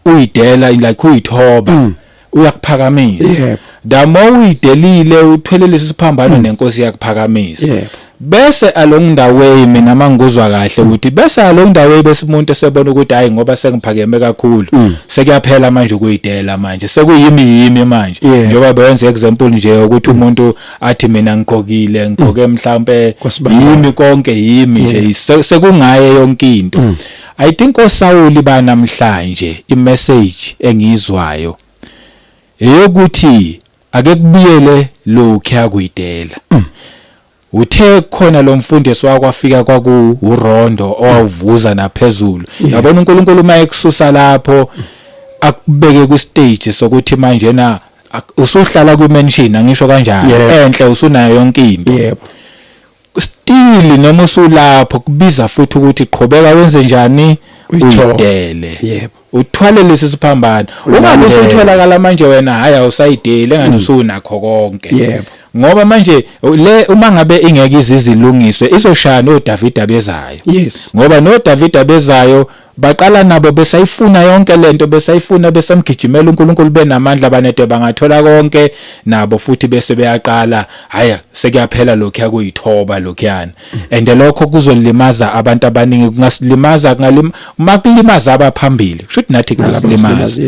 B: uyidela like uyithoba uyakuphakamisa Yebo. Mm. the
A: more
B: uyidelile uthelelisa isiphambano nenkosi yakuphakamisa Yebo. Bese
A: along
B: the way mina mangikuzwa kahle ukuthi bese along the way bese umuntu esebona ukuthi hayi ngoba sengiphakeme kakhulu mm. sekuyaphela manje ukuyidela manje sekuyimi yimi manje yeah. njengoba beyenza example nje ukuthi mm. umuntu athi mina ngigqokile ngigqoke mm. mhlambe yimi konke yimi nje yeah. sekungaye yonke into mm. i think osawuli banamhlanje i message engizwayo eyokuthi Ake kubiyele lokhuya kuyidela. Mm. uthe khona lo mfundisi wakwafika kwakuwurondo owawuvuza naphezulu yabona uNkulunkulu uma ekususa lapho akubeke ku stage sokuthi manje na usuhlala kwi mansion angisho kanjani enhle usunayo yonke into yebo
A: still
B: noma usulapho kubiza futhi ukuthi qhubeka wenze njani uyidele yebo
A: uthwale lesi
B: siphambano ungabe usutholakala manje wena hayi awusayidele engani mm. usunakho konke yebo ngoba
A: manje
B: le uma ngabe ingeke izizilungiswe izoshaya no David abezayo yes ngoba no
A: David
B: abezayo Baqala nabo besayifuna yonke lento besayifuna besamgijimela uNkulunkulu benamandla banede bangathola konke nabo futhi bese beyaqala haya sekuyaphela lokhuya kuyithoba lokhuyana and lokho kuzolimaza abantu abaningi kungasilimaza kungalim uma kulimaza abaphambili kusho ukuthi nathi kungasilimaza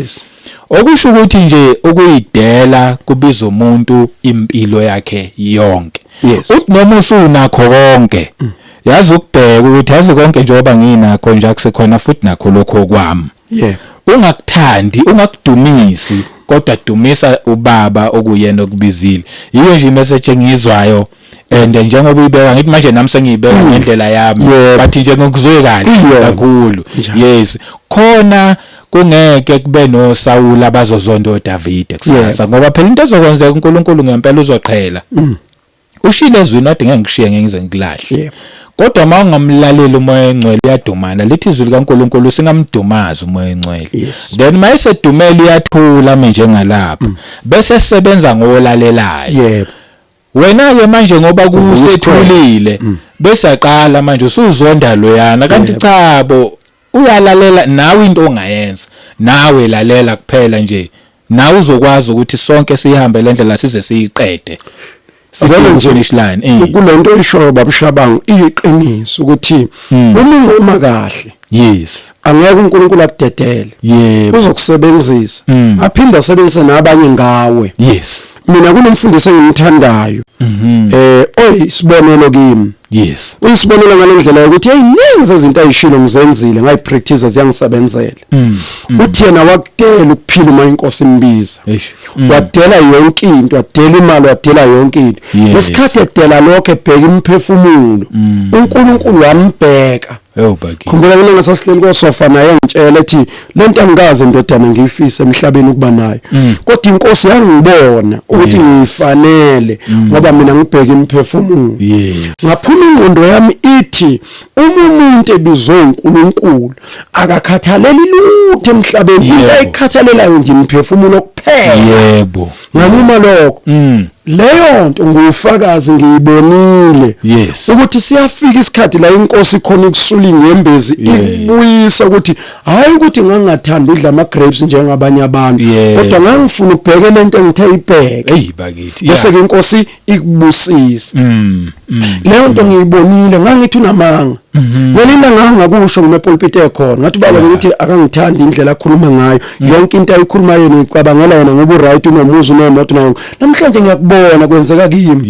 B: Okusho ukuthi nje ukuyidela kubiza umuntu impilo yakhe yonke. Yes. Uthi noma usunakho konke mm. yazi ukubheka ukuthi yazi konke njengoba nginakho nje akusekhona futhi nakho lokho okwami. Yeah. Ungakuthandi, ungakudumisi kodwa dumisa ubaba okuyena okubizile. Yiyo nje message engizwayo and njengoba uyibeka ngithi manje nami sengiyibeka mm. ngendlela yami but nje ngokuzwe kahle kakhulu yes khona kungeke kube no Saul abazozonda uDavide kusasa ngoba phela into ezokwenzeka uNkulunkulu ngempela uzoqhela mm. ushile ezwini wathi ngeke ngishiye ngeke ngize ngikulahle kodwa uma ungamlaleli umoya engcwele uyadumana lithi izwi likaNkuluNkulu singamdumaza umoya engcwele yes. then uma esedumela uyathula ame njengalapha mm. bese sebenza ngolalelayo yebo wena ke manje ngoba kusethulile mm. bese aqala manje usuzonda loyana kanti cha bo uyalalela nawe into ongayenza nawe lalela kuphela nje nawe uzokwazi ukuthi sonke sihambe le ndlela size siyiqede sibone nje finish line eh. kulento oyishoyo
A: babushabango iyiqiniso ukuthi hmm. uma ungoma kahle yes angeke uNkulunkulu akudedele yebo uzokusebenzisa hmm. aphinde asebenzise nabanye ngawe yes mina kunomfundisi engimthandayo mhm. eh oy sibonelo kimi yes uyisibonelo ngalendlela ukuthi hey ninzi izinto ayishilo ngizenzile ngayi practice ziyangisebenzela mm, mm. uthi yena wakudela ukuphila uma inkosi imbiza mm. wadela yonke into wadela imali wadela yonke into ngesikhathi edela lokho ebheka imphefumulo uNkulunkulu wambheka khumbula mina ngasasihleli kosofa naye ngitshela ethi lento angikaze ndodana ngiyifise emhlabeni ukuba nayo mm. kodwa inkosi yangibona ukuthi ngifanele mm. ngoba mina ngibheka imphefumulo ngaphuma ingqondo yami ithi uma umuntu ebizwe uNkulunkulu akakhathaleli lutho emhlabeni into ayikhathalelayo nje imphefumulo kuphela yebo nganquma lokho mm. leyo nto ngufakazi ngiyibonile yes. ukuthi siyafika isikhathi la inkosi khona ukusula ingembezi yeah. ikubuyisa ukuthi hayi ukuthi ngangathanda udla ama grapes njengabanye abantu yeah. kodwa ngangifuna ukubheke lento engithe ibheke hey bakithi bese yeah. ke inkosi ikubusise mm, mm, leyo nto mm. ngiyibonile ngangithi unamanga mhm. ngelina ngangakusho ngimepulpiti ekhona ngathi baba ngithi akangithandi indlela akhuluma ngayo yonke into ayikhuluma yena ngicabangela yena ngoba uright unomuzi unemoto nayo namhlanje ngiyakubona kwenzeka kimi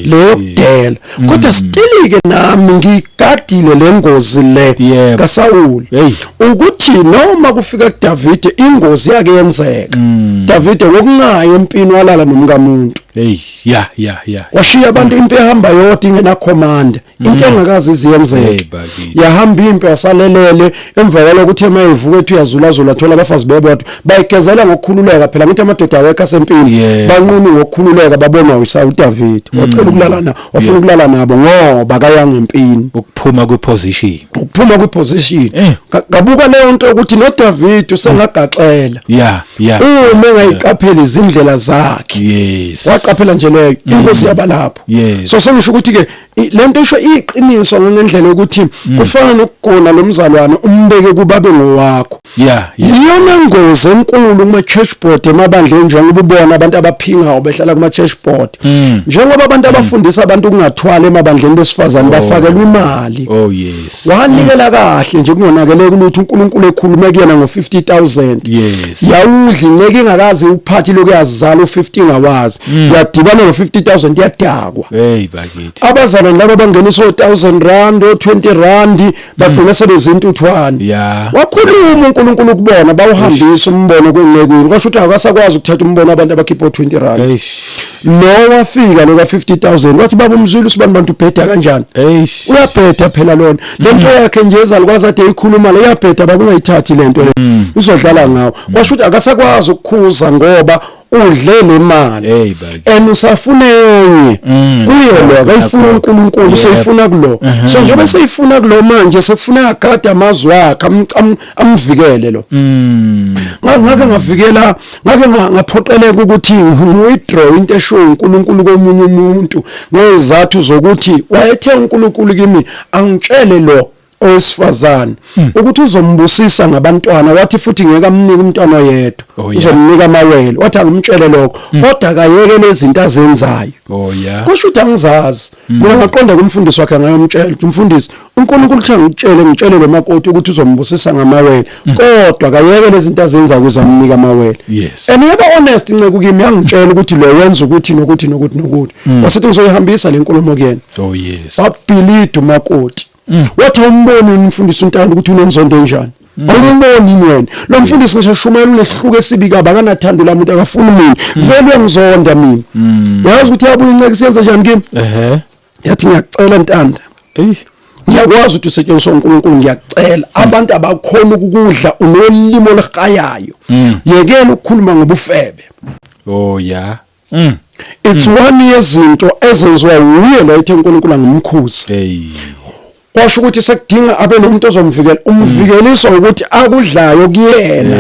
A: leyo kudela kodwa sitilike nami ngiyi gadile lengozi le Yebo. kaSawuli Hey. ukuthi noma kufika kuDavide ingozi yake yenzeka Mm. Davide wokungayi empini walala nomkamuntu hey
B: ya ya ya washiya
A: abantu impi ehamba yodwa ingena command into engakazi Hey, iziyenzeke bakithi. yahamba impi wasalelele emva kwaloko uthe mayevuka ethi uyazulazula thola abafazi bebodwa bayigezela ngokukhululeka phela ngithi amadoda awekho asempini Yeah. banqunu ngokukhululeka babonwa uSawuli uDavide wacela ukulalana wafuna ukulala nabo ngoba kaya ngempini ukuphuma
B: kwiposition ukuphuma
A: kwiposition eh. ngabuka leyo nto ukuthi no David usengagaxela yeah yeah uma engayiqaphela izindlela zakhe yes waqaphela nje leyo mm. inkosi yabalapho yes so sengisho ukuthi ke lento isho iqiniso ngendlela yokuthi mm. kufana nokugona lomzalwane umbeke kubabe ngowakho Yeah, yeah. Iyona ngozi enkulu kuma church board emabandleni njengoba ubona abantu abaphingayo behlala kuma church board. Mm. Njengoba abantu mm. abafundisa abantu ukungathwala emabandleni besifazane oh. bafakelwa imali. Oh yes. Wanikela mm. kahle nje kungonakele kulutho uNkulunkulu ekhulume kuyena ngo 50000. Yes. Yawudli nceke ingakazi uphathi lokuyazala u50 ngawazi. Mm. Yadibana ngo 50000 yadakwa. Hey bakithi. Abazalwane laba bangena so 1000 rand o 20 rand bagcina sebezintuthwane Yeah. wakhuluma uNkulunkulu kubona bawuhambisa umbono kwencekwini kwasho ukuthi akasakwazi ukuthatha umbono abantu abakhipha o20 rand Eish. lo wafika lo ka 50000 wathi baba umzulu usibani bantu ubheda kanjani Eish. uyabheda phela lona lento yakhe nje ezalukwazi ade ikhuluma le uyabheda baba ungayithathi lento le uzodlala ngawo kwasho ukuthi akasakwazi ukukhuza ngoba udle le mali Hey, bakithi. and usafuna enye Mm, kuyo lo akayifuna nakho. uNkulunkulu Yep. seyifuna kulo Mhm. so njengoba seyifuna kulo manje sekufuna agade amazwi akhe am- am- amvikele lo Mm. Nga- ngake ngavikela ngake nga- ngaphoqeleka ukuthi ngiwithdraw into eshiwo uNkulunkulu komunye umuntu ngezathu zokuthi wayethe uNkulunkulu kimi angitshele lo owesifazane hmm. ukuthi uzombusisa ngabantwana wathi futhi ngeke amnike umntwana oyedwa oh, uzomnika amawele wathi angimtshele lokho hmm. kodwa akayeke lezinto azenzayo oh, kusho ukuthi angizazi hmm. mina ngaqonda kumfundisi wakhe ngayomtshela ukuthi mfundisi uNkulunkulu uthe ngitshele ngitshele lo makoti ukuthi uzombusisa ngamawele kodwa akayeke lezinto azenza ukuze amnike amawele and yaba honest inceku kimi yangitshela ukuthi lo wenza ukuthi nokuthi nokuthi nokuthi wasethi ngizoyihambisa le nkulumo kuyena oh yes babhilida umakoti mm. wathi awumboni yini umfundisi untando ukuthi unenzondo enjani mm. awumboni yini wena lo mfundisi ngisho shumayela unesihluko esibi kabi akanathando la muntu akafuni mina mm. vele uyangizonda mina wayazi ukuthi yabuya inceke siyenza njani kimi yathi ngiyacela ntanda ngiyakwazi ukuthi usetshenziswa uNkulunkulu ngiyacela abantu abakhona ukukudla unolimo olihayayo yekela ukukhuluma ngobufebe oh yeah mm. it's mm. one yezinto ezenziwa wuye lo ethe uNkulunkulu angimkhuze hey kwasho ukuthi sekudinga abe nomuntu ozomvikela umvikelisa mm. ukuthi akudlayo kuyena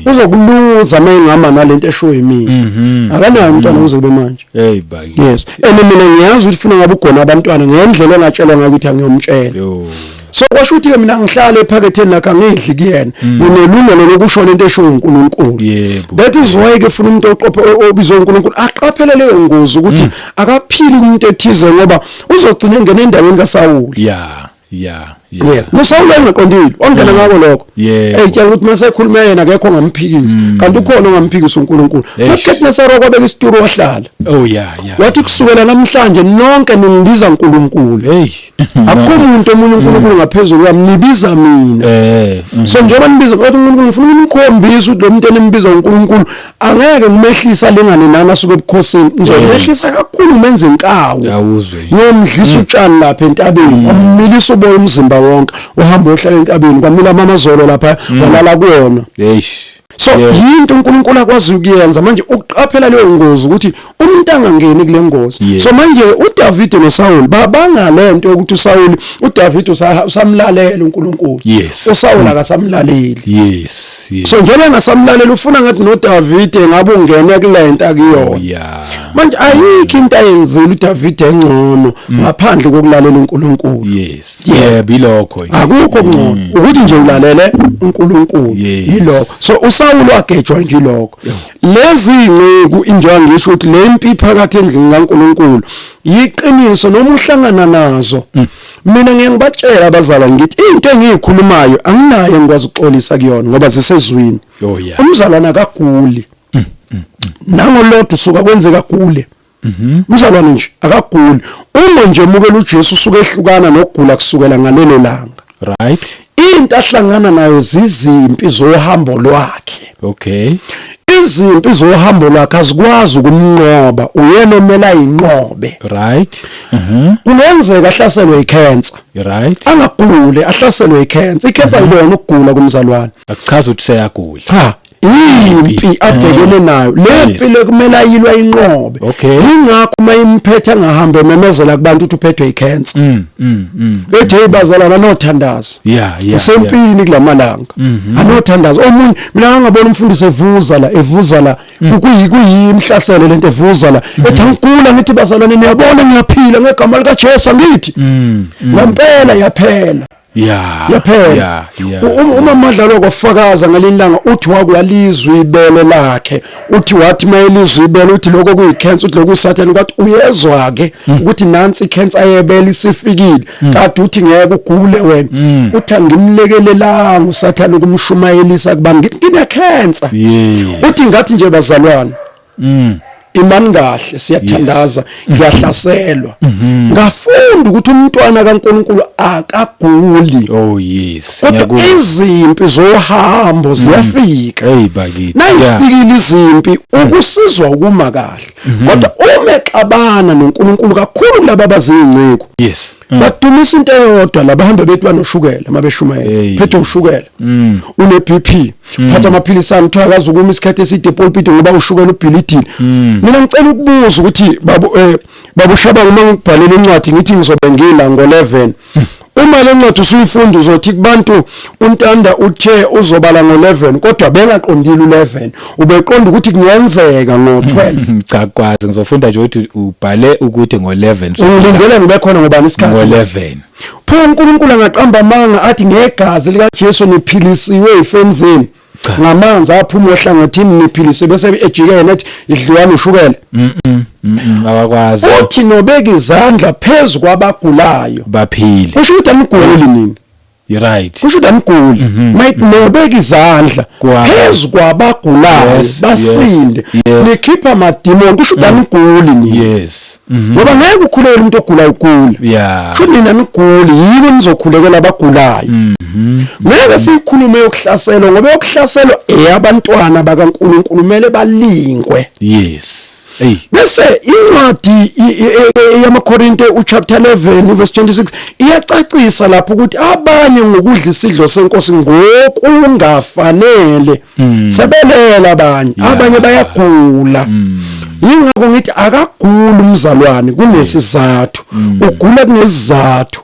A: uzokuluza mengihamba nalento esho yimina mm-hmm. akanayo umntwana mm. uze kube manje hey bayi yes and mina ngiyazi ukuthi funa ngabe ugona abantwana ngendlela engatshelwa ngayo ukuthi angiyomtshela so kwasho ukuthi ke mina ngihlale ephaketheni lakhe angidli kuyena mm. nginelungelo lokusho lento esho uNkulunkulu that is why ke funa umuntu oqophe obizwa uNkulunkulu aqaphele leyo ngozi ukuthi mm. akaphili umuntu ethize ngoba uzogcina engena endaweni kaSawuli yeah yeah yes nosawula engaqondile ongena mm. ngako lokho eyitshela ukuthi masekhuluma yena akekho ongamphikisi mm. kanti ukhona ongamphikisi uNkulunkulu makhethi nasaro kwabeka isituru wahlala oh yeah yeah wathi kusukela namhlanje nonke ningibiza uNkulunkulu hey akukho umuntu omunye uNkulunkulu ngaphezulu kwami nibiza mina eh mm. so njengoba nibiza kodwa uNkulunkulu ngifuna unikhombise ukuthi lo muntu enimbiza uNkulunkulu angeke ngimehlisa lengane nana suke ebukhosini ngizomehlisa eh. kakhulu menze inkawu yawuzwe ngiyomdlisa mm. utshani lapha entabeni mm. wamilisa uboya umzimba wonke uhamba ohlala entabeni kwamila mama zolo lapha walala kuyona eish so yinto uNkulunkulu akwazi ukuyenza manje ukuqaphela leyo ngozi ukuthi umuntu angangeni kule ngozi so manje uDavid noSaul babanga lento ukuthi uSaul uDavid usamlalela uNkulunkulu uSaul akasamlaleli yes so njengoba engasamlalela ufuna ngathi noDavid ngabe ungene kulento akuyona oh, manje ayikho into ayenzile uDavid engcono mm. ngaphandle kokulalela uNkulunkulu yes yebo ilokho akukho ngcono mm. ukuthi nje ulalele uNkulunkulu yilokho so uSawulu wagejwa nje lokho lezi inceku injengoba ngisho ukuthi le mpi phakathi endlini kaNkulunkulu yiqiniso noma uhlangana nazo mm. mina ngeke ngibatshela abazalwane ngithi into engiyikhulumayo anginayo engikwazi ukuxolisa kuyona ngoba zisezwini oh, umzalwana akaguli mm, nangolodwa usuka kwenzeka kule Mhm. Mzalwane nje akaguli. Uma nje mukela uJesu usuke ehlukana nokugula kusukela ngalelo langa. Right. Into ahlangana nayo zizimpi zohambo lwakhe. Okay. izimpi zohambo lwakhe azikwazi ukumnqoba uyena omele ayinqobe right mhm.
B: kungenzeka
A: ahlaselwe icancer right
B: angagule
A: ahlaselwe icancer icancer mm-hmm. ikona ukugula kumzalwane akuchaza ukuthi
B: seyagula cha
A: impi abhekene eh. nayo le mpi lekumele ayilwa inqobe ingakho uma imphethe angahambe ememezela kubantu ukuthi uphethwe icancer mm, mm, mm. ethi hey bazalana anothandaza isempini kulamalanga mm-hmm. anothandaza omunye mina ngangabona umfundisi evuza la evuza la kuyimhlaselo lento evuza la mm-hmm. ethi angikula ngithi bazalwane niyabona ngiyaphila ngegama likaJesu angithi ngempela yaphela Yeah. Yaphela. Yeah, yeah. U- um- Uma madlalo kwafakaza ngalilanga uthi wakwalizwa ibele lakhe. Uthi wathi mayelizwa ibele uthi lokho kuyi cancer uthi lokhu sathane kwathi uyezwa ke Hmm. ukuthi nansi i cancer yebele isifikile. Kade uthi ngeke ugule wena. Hmm. Uthi angimlekelelanga usathane kumshumayelisa kuba ngithi ngine cancer. Yeah. Uthi ngathi nje bazalwane mm. imani kahle siyathandaza ngiyahlaselwa mm-hmm. ngafunda ukuthi umntwana kaNkuluNkulu akaguli oh yes kodwa izimpi zohambo mm. ziyafika hey bakithi nayifikile izimpi mm. ukusizwa ukuma kahle mm-hmm. kodwa uma exabana noNkuluNkulu kakhulu laba bazinceku yes Mm. badumisa into eyodwa laba hamba bethi banoshukela uma beshumayela phethe ushukela mm. une BP mm. phatha amaphilisi ami kuthiwa akazi ukuma isikhathi eside pulpit ngoba ushukela ubhilidini mina ngicela ukubuza ukuthi babo eh, babo shaba uma ngibhalele incwadi ngithi ngizobe ngila ngo 11 uma le ncwadi usuyifunda uzothi kubantu untanda uthe uzobala ngo-11 kodwa bengaqondile u-11 ubeqonda ukuthi kungenzeka ngo-12 cha kwazi ngizofunda
B: nje ukuthi ubhale ukuthi ngo-11 ungilindele ngibe khona
A: ngobani isikhathi ngo-11
B: pho unkulunkulu
A: angaqamba amanga athi ngegazi likajesu niphilisiwe yifeni zenu ngamanzi aphuma ohlangothini niphilise bese ejike yena ethi idliwani ushukela
B: awakwazi uthi nobeka
A: izandla phezu kwabagulayo baphile usho
B: ukuthi aniguli
A: nini right kusho
B: damguli
A: mhm, mayinobeka mhm. izandla phezu kwabagulayo basinde nikhipha amadimoni kusho mm. damguli ni yes mhm. ngoba ngeke ukhulele umuntu ogula ugula yeah kusho nina niguli yini nizokhulekela abagulayo ngeke siyikhulume yokuhlaselwa ngoba yokuhlaselwa eyabantwana bakaNkuluNkulu kumele balingwe yes bese incwadi yamaKorinte uchapter 11 verse 26 iyacacisa lapho ukuthi abanye ngokudla isidlo senkosi ngokungafanele hmm. sebelela abanye abanye bayagula hmm. yingakho ngithi akaguli umzalwane kunesizathu hmm. ugula kunesizathu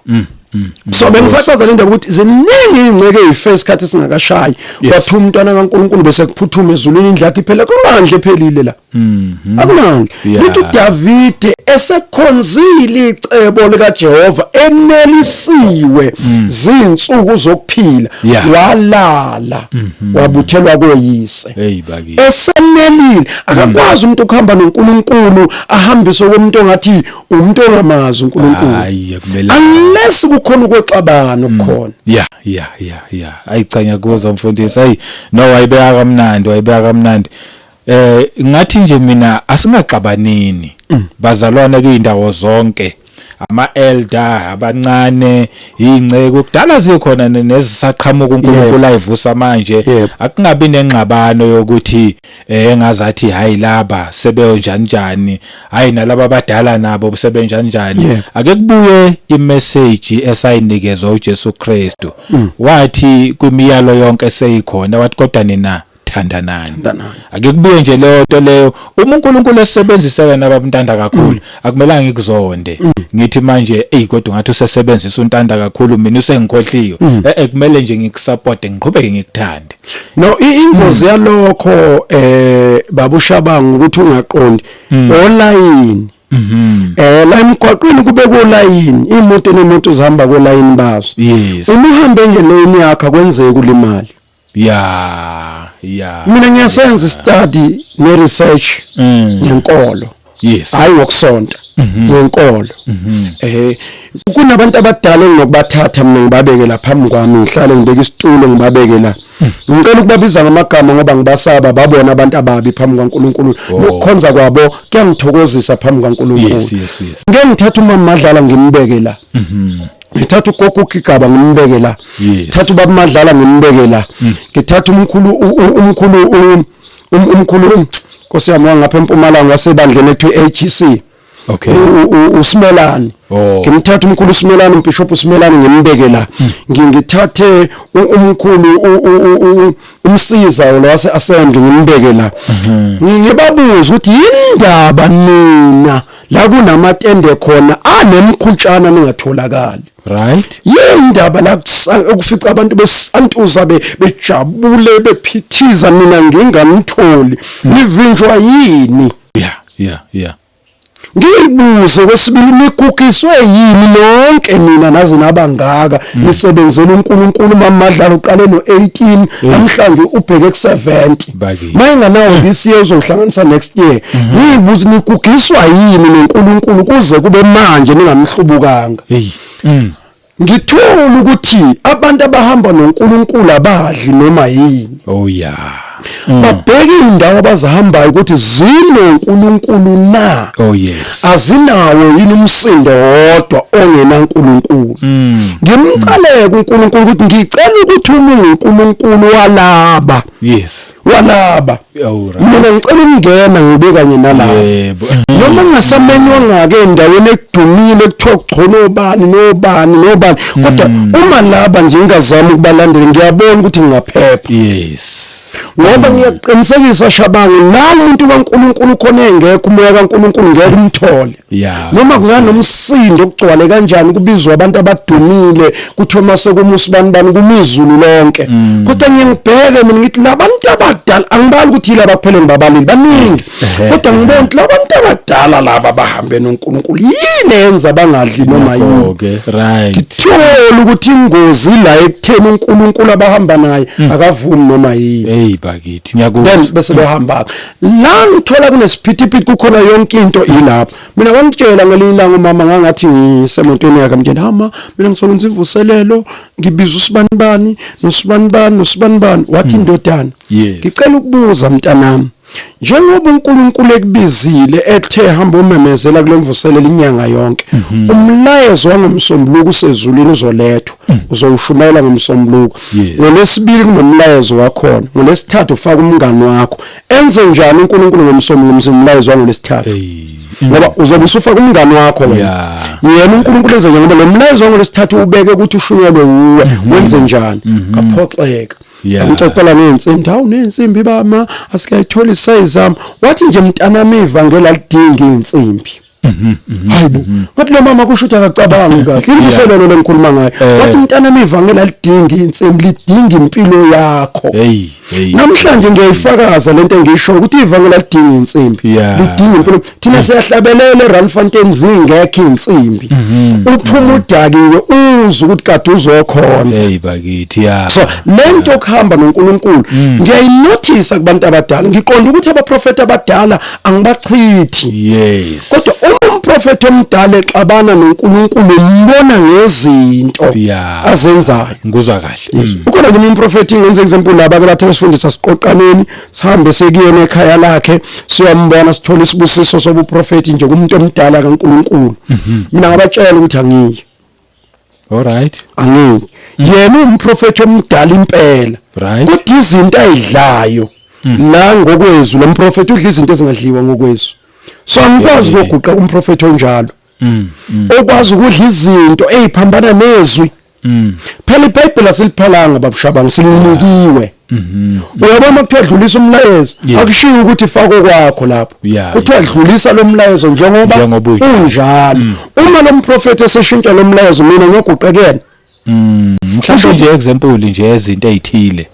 A: Mm. so bengisachaza le ndaba ukuthi ziningi ingceke ezife isikhathi singakashayi wathi umntwana kaNkuluNkulu bese kuphuthuma ezulwini indlakhe iphele kumandla ephelile la Mhm. Akunani. Yeah. Lithi uDavide esekhonzile icebo likaJehova enelisiwe zinsuku zokuphila Mm. Yeah. Mm-hmm. walala wabuthelwa koyise. Hey bakithi. esenelile Mm. akakwazi umuntu ukuhamba noNkulunkulu ahambise komuntu ongathi umuntu ongamazi uNkulunkulu Hayi akumele. unless kukhona ukwexabana Mm. okukhona Yeah, yeah, yeah,
B: yeah. Ayi cha ngiyakuzwa mfundisi. Ayi no wayibeka kamnandi, wayibeka kamnandi. Eh ngathi nje mina asingaxabanini mm. bazalwane kuyindawo zonke ama elder abancane ingceke kudala zikhona nezisaqhamuka uNkulunkulu ayivusa manje akungabi nengxabano yokuthi eh engazathi hayi laba sebenjani njani hayi nalabo abadala nabo sebenjani njani ake kubuye imessage esayinikezwa uJesu Kristu mm. wathi kwimiyalo yonke seyikhona wathi kodwa nina thandanani Thandanani. ake kubuye nje leyo nto leyo uma uNkulunkulu esebenzisa wena babantanda kakhulu akumelanga ngikuzonde ngithi manje ey kodwa ngathi usesebenzisa untanda kakhulu mina usengikhohliwe eh eh, kumele nje ngikusupport ngiqhubeke ngikuthande no i-
A: ingozi yalokho eh babushabanga ukuthi ungaqondi olayini eh la emgwaqweni kube kolayini imoto nemoto zihamba kolayini bazo yes uma uhambe engeleyini yakho akwenzeki ulimali ya ya mina ngiyasenza study ne research mm. ngenkolo yes hayi wokusonta mhm. ngenkolo mhm. eh kunabantu abadala ngokubathatha mina ngibabeke la phambi kwami ngihlale ngibeke isitulo ngibabeke la mm. ngicela ukubabiza ngamagama ngoba ngibasaba babona abantu ababi phambi kwaNkuluNkulu oh. nokukhonza kwabo kuyangithokozisa phambi kwaNkuluNkulu ngeke ngithathe uma madlala ngimbeke la mhm. ngithatha ugogo ugigaba ngimbeke la ngithatha ubaba madlala ngimbeke la mm. ngithatha umkhulu umkhulu umkhulu um, nkosi yami wangapha empumalanga wasebandleni ethu HC e okay
B: usimelani
A: oh. ngimthatha umkhulu usimelani umbishop usimelani ngimbeke la mm. ngingithathe umkhulu umsiza lo wase assembly ngimbeke la mm-hmm. ngibabuza ukuthi yindaba nina la kunamatende khona anemkhutshana ningatholakali right
B: yini indaba la
A: kufica abantu besantuza bejabule bephithiza mina ngingamtholi hmm. nivinjwa yini yeah yeah
B: yeah
A: ngiyibuze kwesibili nikukiswe yini nonke mina naze nabangaka hmm. nisebenzela uNkulunkulu mamadlalo uqale no18 hmm. namhlanje ubheke ku70 mayinganawo this year uzohlanganisa next year mhm. niyibuza nikugiswa yini noNkulunkulu kuze kube manje ningamhlubukanga mm. ngithola ukuthi abantu abahamba noNkulunkulu abadli noma yini oh yeah mm. babheke indawo abazihambayo ukuthi zinoNkulunkulu na oh yes azinawo yini umsindo wodwa ongena uNkulunkulu mm. ngimcaleke uNkulunkulu ukuthi ngicela ukuthi umuntu uNkulunkulu walaba yes walaba mina ngicela ukungena ngibe kanye nalabo yebo noma ngasamenywa ngake endaweni ekudumile kuthiwa kugcono obani nobani nobani kodwa mm. uma laba nje ngingazama ukubalandela ngiyabona ukuthi ngingaphepha yes ngoba mm. ngiyaqinisekisa shabangu nalo umuntu kaNkuluNkulu khona engekho umoya kaNkuluNkulu ngeke umthole Yeah, noma kunganomsindo okugcwale kanjani kubizwa abantu abadumile kuthiwa mase kumusa bani bani kumizulu lonke mm. kodwa ngiyangibheke mina ngithi labantu abadala angibali ukuthi yilaba kuphela ngibabalile baningi kodwa ngibona ukuthi labantu abadala laba bahambe noNkulunkulu yini enza bangadli noma yini okay right ngithola ukuthi ingozi la ekutheni uNkulunkulu abahamba naye mm. akavumi noma yini hey bakithi ngiyakuzwa
B: bese behamba
A: la ngithola kunesiphithiphithi kukhona yonke into ilapho mina wangitshela ngelinye ilanga umama ngangathi ngisemontweni yakhe mtshela hama mina ngisokwenza imvuselelo ngibiza usibanibani nosibanibani nosibanibani wathi hmm. indodana ngicela ukubuza mntanami njengoba uNkulunkulu ekubizile ethe hamba umemezela kulemvuselelo inyanga yonke mhm. umlayezo wangomsombuluko usezulwini uzolethwa mhm. uzowushumayela ngomsombuluko yes. ngolesibili kunomlayezo wakhona ngolesithathu ufaka umngani wakho enze njani uNkulunkulu ngomsombuluko umlayezo wangolesithathu hey. ngoba uzobe usufaka umngani wakho wena yena uNkulunkulu enze ngoba lo mlayezo ngolesithathu ubeke ukuthi ushunyelwe uwe mhm. wenze njani mhm. kaphoxeka ngixoxela neensimbi hawu neensimbi bama asikayitholi size am wathi nje mntanami ivangela lidinga iinsimbi hayibo wathi lo mama kusho ukuthi akacabangi kahle imvuselelo lengikhuluma ngayo eh. wathi mntana mivangeli alidingi insimu lidingi impilo yakho hey hey namhlanje ngiyayifakaza lento engisho ukuthi ivangeli alidingi insimbi lidingi impilo thina mm. siyahlabelela eRandfontein zingekho insimbi mm-hmm. uphuma udakiwe uzwe ukuthi kade uzokhonza hey bakithi ya
B: so lento
A: okuhamba noNkulunkulu mm. ngiyayinothisa kubantu abadala ngiqonda ukuthi abaprofeti abadala angibachithi yes kodwa uma umprofeti omdala exabana noNkulunkulu umbona ngezinto yeah. azenzayo ngikuzwa kahle
B: yes. mm. ukhona kimi umprofeti
A: ngenze example laba ke bathe usifundisa siqoqaneni sihambe sekuyena ekhaya lakhe siyambona sithola isibusiso sobuprofeti nje kumuntu omdala kaNkulunkulu mm -hmm. mina ngabatshela ukuthi angiyi
B: Alright. Angi.
A: Yena umprofeti omdala impela. Right. Kodwa izinto ayidlayo mm. la ngokwezwi lomprofeti udla izinto ezingadliwa ngokwezwi. So angikwazi ukuguqa umprofeti onjalo. Mm, mm. Okwazi ukudla izinto eziphambana nezwi. Phela iBhayibheli asiliphalanga babushabanga silinikiwe. Mhm. Uyabona kuthiwa dlulisa umlayezo Yeah. akushiyo ukuthi fako kwakho lapho. Yeah, Kuthiwa yeah. dlulisa lo mlayezo njengoba Njengoba unje- Mm. unjalo. Uma lo mprofethi eseshintsha lo mlayezo mina ngiyoguqekela. Mm,
B: mhlawumbe nje example nje ezinto ezithile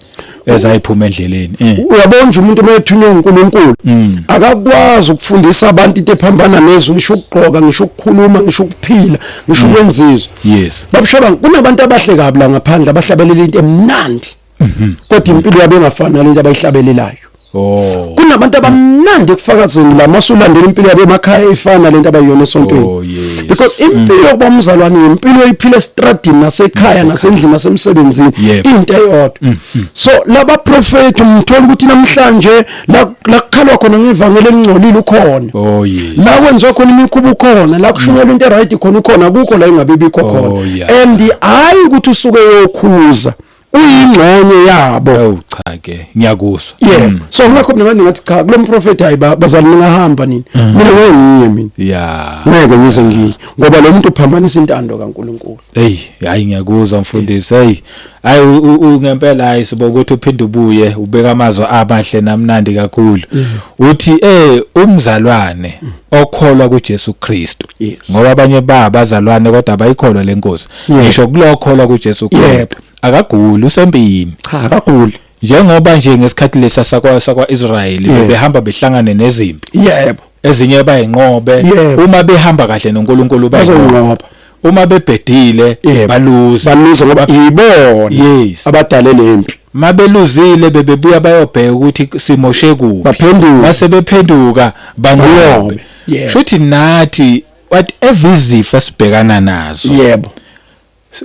B: ezayiphuma endleleni eh Uyabona nje umuntu
A: uma ethunywe uNkulunkulu Mm. akakwazi ukufundisa abantu into ephambana nezwe ngisho ukugqoka ngisho ukukhuluma ngisho ukuphila ngisho ukwenzizwa. yes Babushoba kunabantu abahle kabi la ngaphandle abahlabelela into emnandi. mhm. kodwa impilo yabo engafani nalento abayihlabelelayo Oh. Kunabantu abamnandi ekufakazeni la masulandela impilo yabo emakhaya efana lento abayiyona esontweni. Oh, Because mm. impilo yokuba umzalwane impilo oyiphila estradini nasekhaya nasendlini nasemsebenzini into eyodwa. Mm, mm. So laba prophet umthola ukuthi namhlanje la kukhalwa khona ngevangeli elingcolile ukhona. Oh, la kwenziwa khona imikhuba ukhona, la kushunyelwa into right khona ukhona, akukho la engabe bikho oh, khona. And hayi ukuthi usuke yokhuza. uyingxenye yabo awu cha ke
B: ngiyakuzwa yeah mm. so ngakho mina
A: manje ngathi cha kulo mprofeti hayi bazali mina hamba nini mm. mina ngeke ngiye mina yeah ngeke ngize ngiye ngoba lo muntu uphambanisa intando kaNkuluNkulu hey hayi ngiyakuzwa
B: mfundisi hey hayi ungempela hayi sibo ukuthi uphinde ubuye ubeka amazwi amahle namnandi kakhulu mm. uthi eh umzalwane mm. okholwa kuJesu Kristu ngoba abanye ba abazalwane kodwa abayikholwa lenkosi Yeah. ngisho kulokholwa kuJesu Yebo. Kristu akaguli usempini cha akaguli
A: njengoba nje
B: ngesikhathi lesa sakwa sakwaIsrayeli Yeah. behamba behlangane nezimpi yebo ezinye bayinqobe Yebo. uma behamba kahle noNkulunkulu bayinqobe bazonqoba
A: uma
B: bebhedile Yebo. baluze baluze ngoba
A: yibona Yes. abadale lempi mabeluzile
B: bebebuya bayobheka ukuthi simoshe kuphi baphenduka base
A: bephenduka
B: Banqobe. banqobe Yebo. shuthi nathi what evizifo esibhekana nazo yebo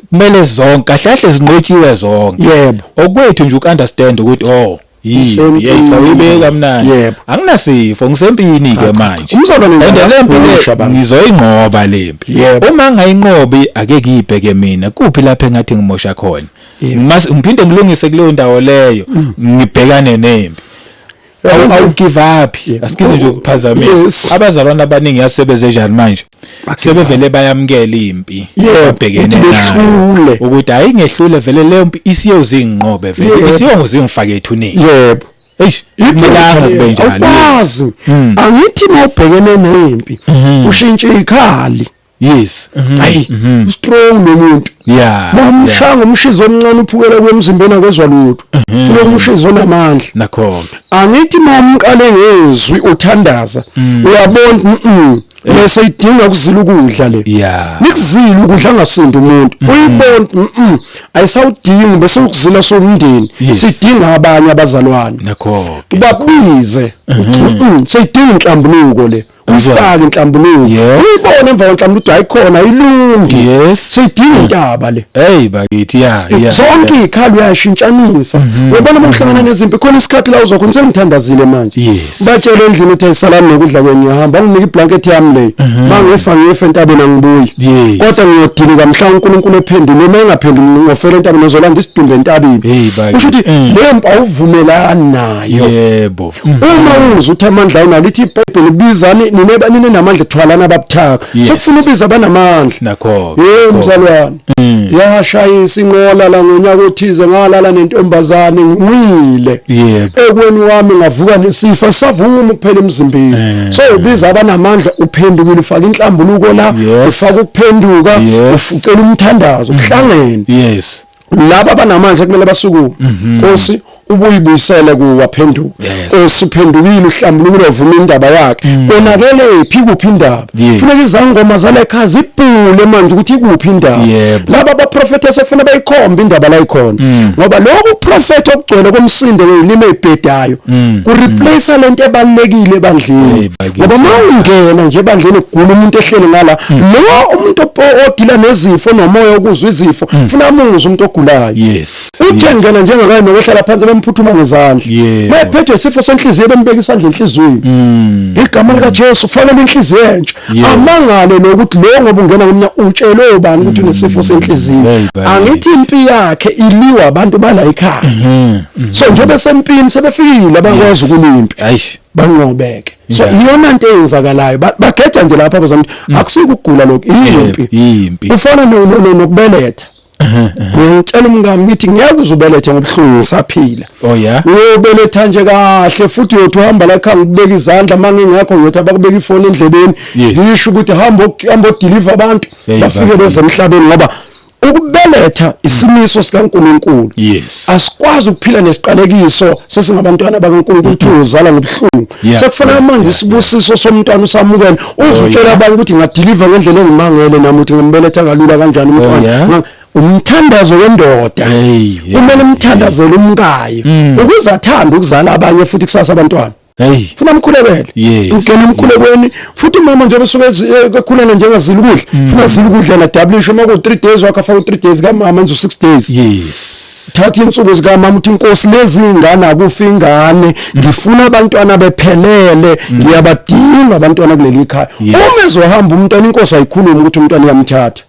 B: kumele zonke kahle kahle zinqotshiwe zonke yebo okwethu nje ukunderstand ukuthi oh yiyibeka mnandi anginasifo ngisempini ke manje umsolonendempilo ngizoyinqoba lempi uma ngayinqobi ake kuyibheke mina kuphi lapha engathi ngimosha khona ngiphinde ngilungise kuleyo ndawo leyo mm. ngibhekane nempi awugive up asikize nje ukuphazamisa abazalwana abaningi yasebeze njani manje sebevele bayamukela impi babhekene nayo ukuthi hayi ngehlule vele leyo mpi isiye uzinginqobe vele isiye ngizingifake ethuneni yebo eish
A: imilanga kube njalo awukwazi hmm. angithi mawubhekene nempi hmm. ushintshe ikhali yes hayi strong lo muntu yeah mamshanga umshizo omncane uphukela kwemzimbeni akwezwa lutho funa umshizo onamandla nakhona
B: angithi
A: mamqale ngezwi uthandaza uyabona bese idinga ukuzila ukudla le yeah nikuzila ukudla ngasinda umuntu uyibona mhm ayisawudingi bese ukuzila somndeni sidinga abanye abazalwane nakhona
B: babize
A: sidinga inhlambuluko le uyifake inhlambuluko uyibone emva kwenhlambuluko ukuthi ayikhona ilungi yes sidinga intaba le hey bakithi ya
B: ya zonke
A: ikhalo uyashintshanisa mhm. uyabona uma uhlangana mhm. nezimpi khona isikhathi la uzokhona sengithandazile manje yes batshele endlini ukuthi ayisalami nokudla kwenye ngihamba nginike iblanket yami le mhm. mangefa ngefa entabeni angibuyi kodwa ngiyodinga mhla uNkulunkulu ephendule uma engaphenduli ngofela entabeni uzolanda isidumbe entabeni usho ukuthi mm. le mpa uvumelani nayo yebo Mm. uma uze uthi amandla awunawo lithi ibhayibheli bizani nine banini namandla thwalana ababuthaka sekufuna ubiza abanamandla nakho hey
B: mzalwane
A: mm. yashayisa inqola la ngonyaka othize ngalala nentombazane ngimile ekweni wami ngavuka nesifa savuma kuphela emzimbeni eh. so ubiza abanamandla uphendukile ufaka inhlambuluko la ufaka ukuphenduka ufucela umthandazo kuhlangene mm. yes laba banamanzi ekumele basukume mhm. nkosi ubuyibuyisele kuwa phenduka osiphendukile uhlambulukile ovuma indaba yakhe mm. konakele phi kuphi indaba funeka izangoma zale kha zibhule manje ukuthi ikuphi indaba laba baprofetha sekufuna bayikhombe indaba la ikhona mm. ngoba lokhu profetha okugcwele komsindo welime ebhedayo mm. ku replace lento ebalekile ebandleni ngoba uma ungena nje ebandleni ugula umuntu ehleli ngala hmm. lo umuntu odila nezifo nomoya okuzwa izifo hmm. funa amuzwe umuntu ogulayo yes uthe ngena njengakaye nokwehlela phansi bemphuthuma ngezandla mayephethe isifo senhliziyo bembeka isandla enhliziyweni hmm. igama likaJesu fanele inhliziyo entsha amangale lokuthi lo ngoba ungena kumnya utshelwe ubani ukuthi unesifo senhliziyo angithi impi yakhe iliwa abantu bala ekhaya so njengoba sempini sebefikile abakwazi ukulimpi banqobeke so Yeah. iyona nto eyenzakalayo Ba- bageja nje lapha bazama ukuthi Mm. akusuke ukugula lokhu yimpi yimpi kufana no- no- no- nokubeletha ngiyangitshela umngami ngithi ngeke uze ubelethe ngobuhlungu ngisaphila oh yeah uyobeletha nje kahle futhi uyothi uhamba la khanga ukubeka izandla uma ngingekho ngiyothi abakubeka ifoni endlebeni Yes. ngisho ukuthi hamba ok- hamba odiliva abantu Hey, bafike bafike. bezemhlabeni ngoba ukubeletha isimiso sikaNkuluNkulu yes. asikwazi ukuphila nesiqalekiso sesingabantwana bakaNkuluNkulu ukuthi uzala ngobuhlungu yeah. sekufanele yeah. manje isibusiso yeah. somntwana usamukele oh, uzutshela oh, abantu ukuthi ngadeliver ngendlela engimangele nami ukuthi ngimbeletha kalula kanjani oh, umntwana oh, yeah. umthandazo wendoda kumele umthandazele umkayo mm. ukuze athande ukuzala abanye futhi kusasa abantwana hey funa mkhulekele yes. ungena emkhulekweni futhi mama njengoba suke eh, ekhulana njengazila ukudla mm. funa zila ukudla na double sho maku 3 days wakha fa 3 days ka mama nje 6 days yes thatha insuku zika mama uthi inkosi lezi ingane akufi ingane mm. ngifuna abantwana bephelele mm. ngiyabadinga abantwana kuleli khaya uma ezohamba umntwana inkosi ayikhulumi ukuthi umntwana uyamthatha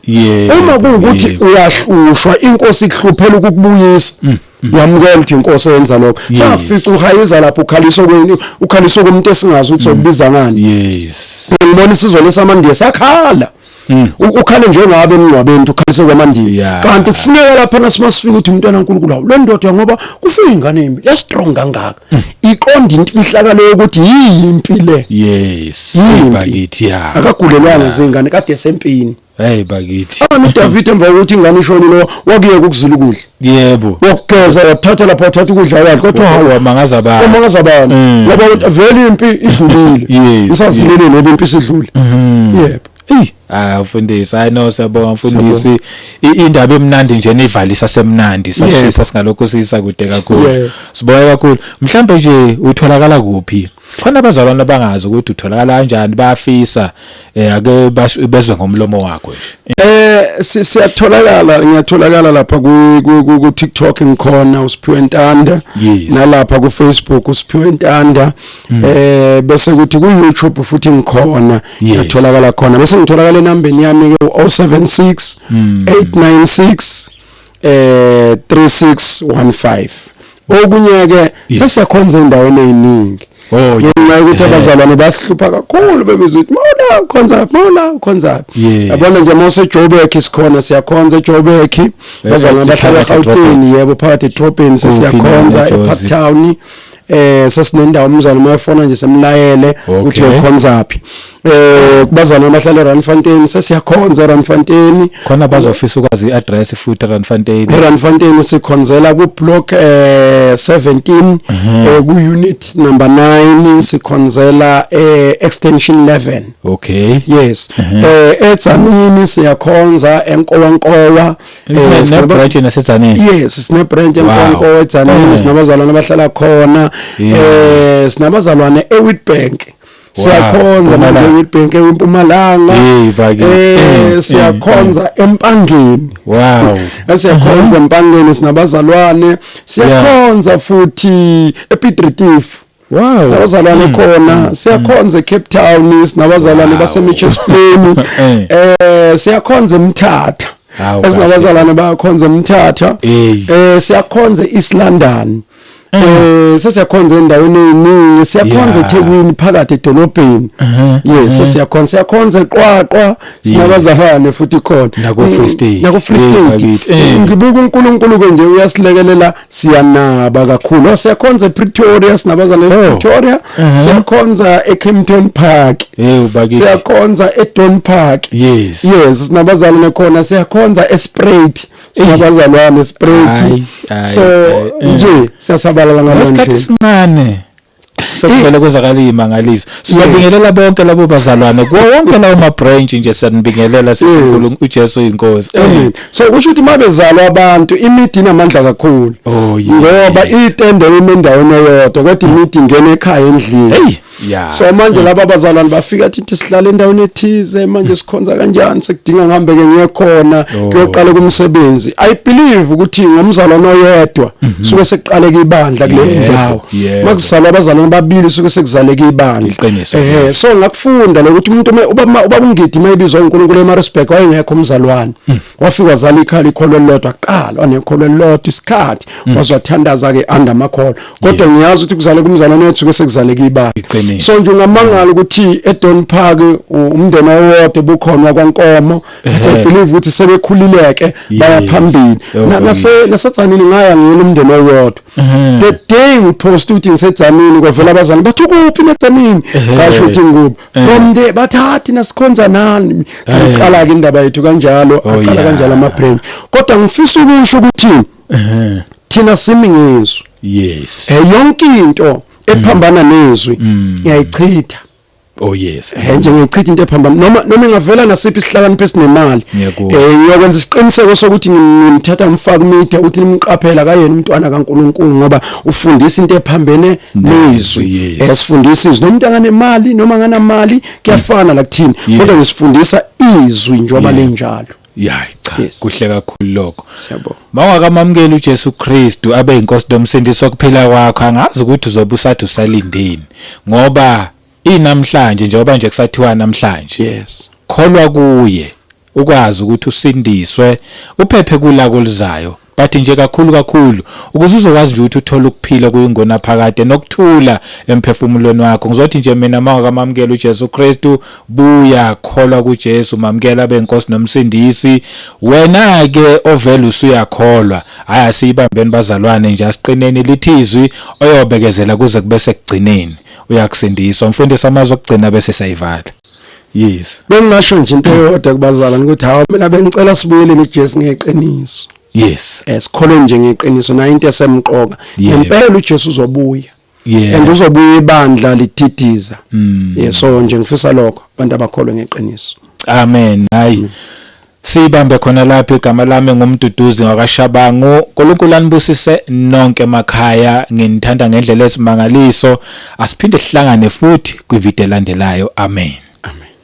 A: uma kuwukuthi uyahlushwa inkosi ikuhluphela ukukubuyisa yamukela ukuthi inkosi eyenza lokho safica uhayiza lapho ukhalisa kwenye ukhalisa kumuntu esingazi ukuthi sokubiza mm. ngani yes ngibona isizwe lesamandiya sakhala mm. ukhale njengabe emngcwabeni ukhalise kwamandiya kanti kufuneka lapha nasimasifica ukuthi umntwana uNkulunkulu awu lendoda ngoba kufika ingane embi ya strong kangaka mm. iqonda infihlakalo yokuthi yimpi le yes ibakithi ya akagulelwanga zingane kade sempini Hey bakithi. Ame
B: ah, David emva
A: kokuthi ingane ishonile wakuyeka ukuzula ukudla. Yebo. Wokugeza
B: wathatha
A: lapha wathatha ukudla kwakhe kodwa hawu amangaza bani. Amangaza bani. Mm. Ngoba ukuthi vele impi idlulile. Yes. Isazilele nebe impi sidlule. Mm-hmm. Yebo. Ey. Ah
B: mfundisi hayi no siyabonga mfundisi indaba emnandi nje nivalisa semnandi sashisa singalokho sisa kude kakhulu siboya kakhulu mhlambe nje utholakala kuphi khona abazalwane abangazi ukuthi utholakala kanjani bayafisa eh ake bezwe ngomlomo wakho nje eh siyatholakala
A: ngiyatholakala lapha ku ku TikTok ngikhona uSiphiwe Ntanda nalapha ku Facebook uSiphiwe Ntanda mm. eh bese kuthi ku YouTube futhi ngikhona ngiyatholakala khona bese ngitholakala enambeni yami ke 076 896 eh 3615 okunye ke sesiyakhonza endaweni eziningi Oh, ngenxa yokuthi abazalwane basihlupha kakhulu bebizwa ukuthi mawula ukhonza mawula ukhonza yabona nje mawuse Joburg isikhona siyakhonza eJoburg eh, bazalwane eh, bahlala eGauteng yebo phakathi eTropin sesiyakhonza ePark Town eh sesinendawo umzali uma efona nje semlayele ukuthi ukhonza phi eh kubazana abahlala eRandfontein sesiyakhonza eRandfontein khona bazofisa
B: ukwazi iaddress futhi eRandfontein eRandfontein
A: sikhonzela ku block eh 17 mhm. eh ku unit number 9 sikhonzela eh extension 11 okay yes
B: mhm.
A: eh etsamini siyakhonza enkowankowa Eh, sine
B: branch naseTzaneni. Yes, sine branch
A: eNkonko eTzaneni, eh. sinabazalwane abahlala khona. Eh, sinabazalwane eWitbank. siyakhonza manje eWitbank eMpumalanga eh siyakhonza eMpangeni wow siyakhonza eMpangeni sinabazalwane siyakhonza futhi ePiet Retief Wow. Sinabazalwane mm. khona mm. siyakhonza eCape Town sinabazalwane baseMitchells Plain eh. eh siyakhonza eMthatha esinabazalwane bayakhonza eMthatha eh siyakhonza eEast London mm. eh sesiyakhonza endaweni eziningi siyakhonza eThekwini phakathi edolobheni uh-huh. yes uh-huh. siyakhonza siyakhonza eQwaqwa sinabazalwane futhi khona nako Free State nako
B: Free State ngibuka
A: uNkulunkulu ke nje uyasilekelela siyanaba kakhulu oh, siyakhonza ePretoria sinabazana oh. ePretoria uh-huh. siyakhonza eKempton Park siyakhonza eDon Park yes yes sinabazana nakhona siyakhonza eSpruit sinabazalwane eSpruit so nje siyasabalala ngalokho isikhathi sincane
B: sekuvele kwenzakala iy'mangaliso sibabingelela bonke labo bazalwane kuwo wonke lawo ma-branch nje siyanibingelela sithi Yes. uNkulunkulu- ujesu yinkosi Amen. So kusho
A: ukuthi uma bezalwa abantu imidi inamandla kakhulu. Oh, yes. Ngoba itende lime endaweni eyodwa kodwa imidi ingena ekhaya endlini. Hey, yeah. So manje laba bazalwane bafika athi sihlale endaweni ethize manje sikhonza kanjani sekudinga ngihambe ke ngiye khona Oh. kuyoqala kumsebenzi. I believe ukuthi ngomzalwane oyedwa suke sekuqaleke ibandla kule Yebo. ndawo. yeah. makuzalwa abazalwane ababili suke sekuzaleke ibandla ehe so ngakufunda lokuthi umuntu ubaba ubaba ungidi mayibizwa uNkulunkulu eMaritzburg wayengekho umzalwane hmm. wafika wazala ikhali ikholo lodwa qala wanekholo lodwa isikhathi hmm. wazwathandaza ke under amakholo kodwa ngiyazi ukuthi kuzale kumzalwane wethu suke sekuzaleke ibandla so nje ungamangala ukuthi eDon Park umndeni owodwa bukhona kwankomo i believe ukuthi sebekhulileke bayaphambili nase nasatsani ngaya ngiyena umndeni owodwa mhm. the day ngiposta ukuthi ngisedzamini kwavela abazali bathi ukuphi nedzamini ngasho ukuthi ngikubi from there bathathi nasikhonza nani siqala-ke indaba yethu kanjalo oh, aqala kanjalo ama-brain kodwa ngifisa ukusho ukuthi thina simi ngezwi yes eh, yonke into ephambana nezwi mm. ngiyayichitha
B: Oh yes. Eh nje ngichitha into ephamba
A: noma noma ingavela nasiphi isihlakanipho esinemali. Eh ngiyokwenza isiqiniseko sokuthi ngimthatha ngifaka umithe ukuthi nimqaphela kayena umntwana kaNkuluNkulu ngoba ufundisa into ephambene nezwi. Esifundisa eh, izwi nomuntu anganemali noma anganamali kuyafana la kuthini kodwa ngisifundisa izwi njengoba linjalo. yayi cha
B: Yes. kuhle kakhulu lokho siyabonga mawungakamamukeli
A: uJesu
B: Kristu abe inkosi nomsindisi wokuphila kwakho angazi ukuthi uzobe usathi usalindeni ngoba inamhlanje njengoba nje kusathiwa namhlanje yes kholwa
A: kuye
B: ukwazi ukuthi usindiswe uphephe kulako lizayo But nje kakhulu kakhulu ukuze uzokwazi nje ukuthi uthole ukuphila kuyingona phakade nokuthula emphefumulweni wakho. Ngizothi nje mina uma wakamamukela uJesu Kristu, buya kholwa kuJesu, mamukela abe inkosi nomsindisi. Wena ke ovela usuyakholwa. Hayi asiyibambeni bazalwane nje asiqineni lithizwi oyobekezela kuze kube sekugcineni. Uyakusindiswa. Mfundisi amazwi okugcina bese siyayivala. yes bengingasho nje into
A: eyodwa kubazalwane ukuthi hawu mina bengicela sibuyele neJesu ngeqiniso yes
B: esikholwe eh, nje
A: ngeqiniso nayo into esemqoka ngempela uJesu uzobuya yeah and uzobuya ibandla lithidiza mm. yeah so nje ngifisa lokho abantu abakholwe ngeqiniso amen hayi
B: mm. Siyibambe khona lapho igama lami nguMduduzi wakwaShabangu. UNkulunkulu anibusise nonke emakhaya. Nginithanda ngendlela ezimangaliso. Asiphinde sihlangane futhi kwivideo elandelayo. Amen. Amen.